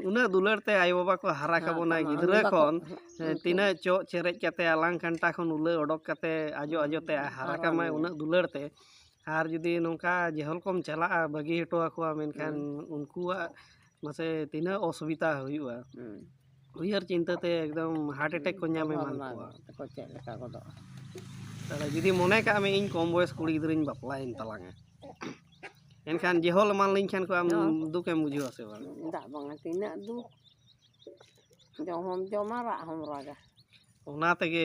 A: ᱩᱱᱟᱹᱜ ᱫᱩᱞᱟᱹᱲ ᱛᱮ ᱟᱭᱳ ᱵᱟᱵᱟ ᱠᱚ ᱦᱟᱨᱟ ᱦᱮᱸ, ᱠᱟᱵᱚᱱᱟ ᱠᱟᱱᱟ, ᱜᱤᱫᱽᱨᱟᱹ ᱩᱱᱤ ᱵᱟᱠᱚ- ᱠᱷᱚᱱ ᱦᱮᱸ, ᱛᱤᱱᱟᱹᱜ ᱪᱚᱜ ᱪᱮᱨᱮᱡ ᱠᱟᱛᱮ ᱟᱞᱟᱝ ᱠᱟᱱᱴᱟ ᱠᱷᱚᱱ ᱩᱞᱟᱹ ᱚᱰᱚᱠ ᱠᱟᱛᱮ ᱟᱡᱚ ᱟᱡᱚ ᱛᱮ ᱦᱟᱨᱟ ᱦᱟᱨᱟ ᱠᱟᱢᱟᱭ ᱢᱮᱭᱟᱭ᱾ ᱩᱱᱟᱹᱜ ᱫᱩᱞᱟᱹᱲ ᱛᱮ ᱟᱨ ᱡᱩᱫᱤ ᱱᱚᱝᱠᱟ ᱡᱮᱦᱚᱞ ᱠᱚᱢ ᱪᱟᱞᱟᱜᱼᱟ ᱵᱟᱹᱜᱤ ᱦᱚᱴᱚ ᱟᱠᱚᱣᱟ ᱢᱮᱱᱠᱷᱟᱱ ᱩᱱᱠᱩᱣᱟᱜ ᱢᱟᱥᱮ ᱛᱤᱱᱟᱹᱜ ᱚᱥᱩᱵᱤᱫᱟ ᱦᱩᱭᱩᱜᱼᱟ ᱩᱭᱦᱟᱹᱨ ᱪᱤᱱᱛᱟᱹ ᱛᱮ ᱮᱠᱫᱚᱢ ᱦᱟᱨᱴ ᱮᱴᱮᱠ ᱠᱚ ᱧᱟᱢ ᱮᱢᱟᱱ ᱠᱚᱣᱟ ᱛᱟᱠᱚ ᱪᱮᱫ ᱞᱮᱠᱟ ᱜᱚᱫᱚᱜᱼᱟ ᱛᱟᱦᱚᱞᱮ ᱡᱩᱫᱤ ᱢᱚᱱᱮ ᱠᱟᱜ ᱢᱮ ᱤᱧ ᱠᱚᱢ ᱵᱚᱭᱮᱥ ᱠᱩᱲᱤ ᱜᱤᱫᱽᱨᱟᱹᱧ ᱵᱟᱯᱞᱟᱭᱮᱱ ᱛᱟᱞᱟᱝᱟ ᱮᱱᱠᱷᱟᱱ ᱡᱮᱦᱚᱞ ᱮᱢᱟᱱ ᱞᱤᱧ ᱠᱷᱟᱱ ᱠᱚ ᱟᱢ ᱫᱩᱠ ᱮᱢ ᱵᱩᱡᱷᱟᱹᱣᱟ ᱥᱮ ᱵᱟᱝ ᱫᱟᱜ ᱵᱟᱝᱟ ᱛᱤᱱᱟᱹᱜ
B: ᱫᱩᱠ ᱡᱚᱢ ᱦᱚᱢ ᱡᱚᱢᱟ ᱨᱟᱜ ᱦᱚᱢ ᱨᱟᱜᱟ ᱚᱱᱟ ᱛᱮᱜᱮ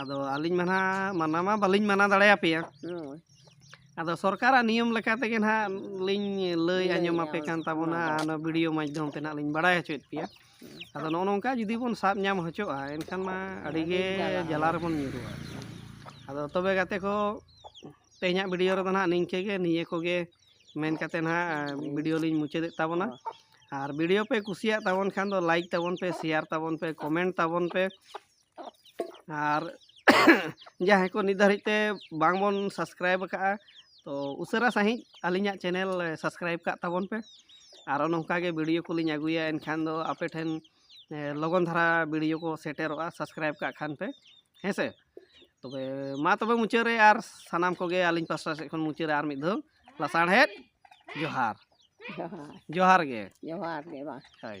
A: ᱟᱫᱚ ᱟᱹᱞᱤᱧ ᱢᱟ ᱱᱟᱦᱟᱜ ᱢᱟᱱᱟ ᱢᱟ ᱵᱟᱹᱞᱤᱧ ᱢᱟᱱᱟ ᱫᱟᱲᱮᱭᱟᱯᱮᱭᱟ ᱦᱳᱭ ᱟᱫᱚ ᱥᱚᱨᱠᱟᱨᱟᱜ ᱱᱤᱭᱚᱢ ᱞᱮᱠᱟ ᱛᱮᱜᱮ ᱱᱟᱦᱟᱜ ᱞᱤᱧ ᱞᱟᱹᱭ ᱟᱸᱡᱚᱢ ᱟᱯᱮ ᱠᱟᱱ ᱛᱟᱵᱚᱱᱟ ᱟᱨ ᱚᱱᱟ ᱵᱷᱤᱰᱤᱭᱳ ᱢᱟᱫᱽᱫᱷᱚᱢ ᱛᱮ ᱱᱟᱦᱟᱜ ᱞᱤᱧ ᱵᱟᱲᱟᱭ ᱦᱚᱪᱚᱭᱮᱫ ᱯᱮᱭᱟ ᱟᱫᱚ ᱱᱚᱜᱼᱚ ᱱᱚᱝᱠᱟ ᱡᱩᱫᱤ ᱵᱚᱱ ᱥᱟᱵ ᱧᱟᱢ ᱦᱚᱪᱚᱜᱼᱟ ᱮᱱᱠᱷᱟᱱ ᱢᱟ ᱟᱹᱰᱤᱜᱮ ᱡᱟᱞᱟ ᱨᱮᱵᱚᱱ ᱧᱩᱨᱩᱜᱼᱟ ᱟᱫᱚ ᱛᱚᱵᱮ ᱜᱟᱛᱮ ᱠᱚ ᱛᱮᱦᱮᱧᱟᱜ ᱵᱷᱤᱰᱤᱭᱳ ᱨᱮᱫᱚ ᱱᱟᱦᱟᱜ ᱱᱤᱝᱠᱟᱹ ᱜᱮ ᱱᱤᱭᱟᱹ ᱠᱚᱜᱮ ᱢᱮᱱ ᱠᱟᱛᱮ ᱱᱟᱦᱟᱜ ᱵᱷᱤᱰᱤᱭᱳ ᱞᱤᱧ ᱢᱩᱪᱟᱹᱫᱮᱫ ᱛᱟᱵᱚᱱᱟ ᱟᱨ ᱵᱷᱤᱰᱤᱭᱳ ᱯᱮ ᱠᱩᱥᱤᱭᱟᱜ ᱛᱟᱵᱚᱱ ᱠᱷᱟᱱ ᱫᱚ ᱞᱟᱭᱤᱠ ᱛᱟᱵᱚᱱ ᱯᱮ ᱥᱮᱭᱟᱨ ᱛᱟᱵᱚᱱ ᱯᱮ ᱠᱚᱢᱮᱱᱴ ᱛᱟᱵᱚᱱ ᱯᱮ ᱟᱨ ᱡᱟᱦᱟᱸᱭ ᱠᱚ ᱱᱤᱛ ᱫᱷᱟᱹᱨᱤᱡ ᱛᱮ ᱵᱟᱝ ᱵᱚᱱ ᱥᱟᱵᱥᱠᱨᱟᱭᱤᱵ ᱟᱠᱟᱫᱼᱟ ᱛᱚ ᱩᱥᱟᱹᱨᱟ ᱥᱟᱺᱦᱤᱡ ᱟᱹᱞᱤᱧᱟᱜ ᱪᱮᱱᱮᱞ ᱥᱟᱵᱥᱠᱨᱟᱭᱤᱵ ᱠᱟᱜ ᱛᱟᱵᱚᱱ ᱯᱮ ᱟᱨᱚ ᱱᱚᱝᱠᱟ ᱜᱮ ᱵᱷᱤᱰᱤᱭᱳ ᱠᱚᱞᱤᱧ ᱟᱹᱜᱩᱭᱟ ᱮᱱᱠᱷᱟᱱ ᱫᱚ ᱟᱯᱮ ᱴᱷᱮᱱ ᱞᱚᱜᱚᱱ ᱫᱷᱟᱨᱟ ᱵᱷᱤᱰᱤᱭᱳ ᱠᱚ ᱥᱮᱴᱮᱨᱚᱜᱼᱟ ᱥᱟᱵᱥᱠᱨᱟᱭᱤᱵ ᱠᱟᱜ ᱠᱷᱟᱱ ᱯᱮ ᱦᱮᱸ ᱥᱮ ᱛᱚᱵᱮ ᱢᱟ ᱛᱚᱵᱮ ᱢᱩᱪᱟᱹᱫ ᱨᱮ ᱟᱨ ᱥᱟᱱᱟᱢ ᱠᱚᱜᱮ ᱟᱹᱞᱤᱧ ᱯᱟᱥᱴᱟ ᱥᱮᱫ ᱠᱷᱚᱱ ᱢᱩᱪᱟᱹᱫ ᱨᱮ ᱟᱨ ᱢᱤᱫ ᱫᱷᱟᱣ ᱞᱟᱥᱟᱲᱦᱮᱫ ᱡᱚᱦᱟᱨ ᱡᱚᱦᱟᱨ ᱜᱮ ᱡᱚᱦᱟᱨ ᱜᱮ ᱵᱟᱝ ᱦᱳᱭ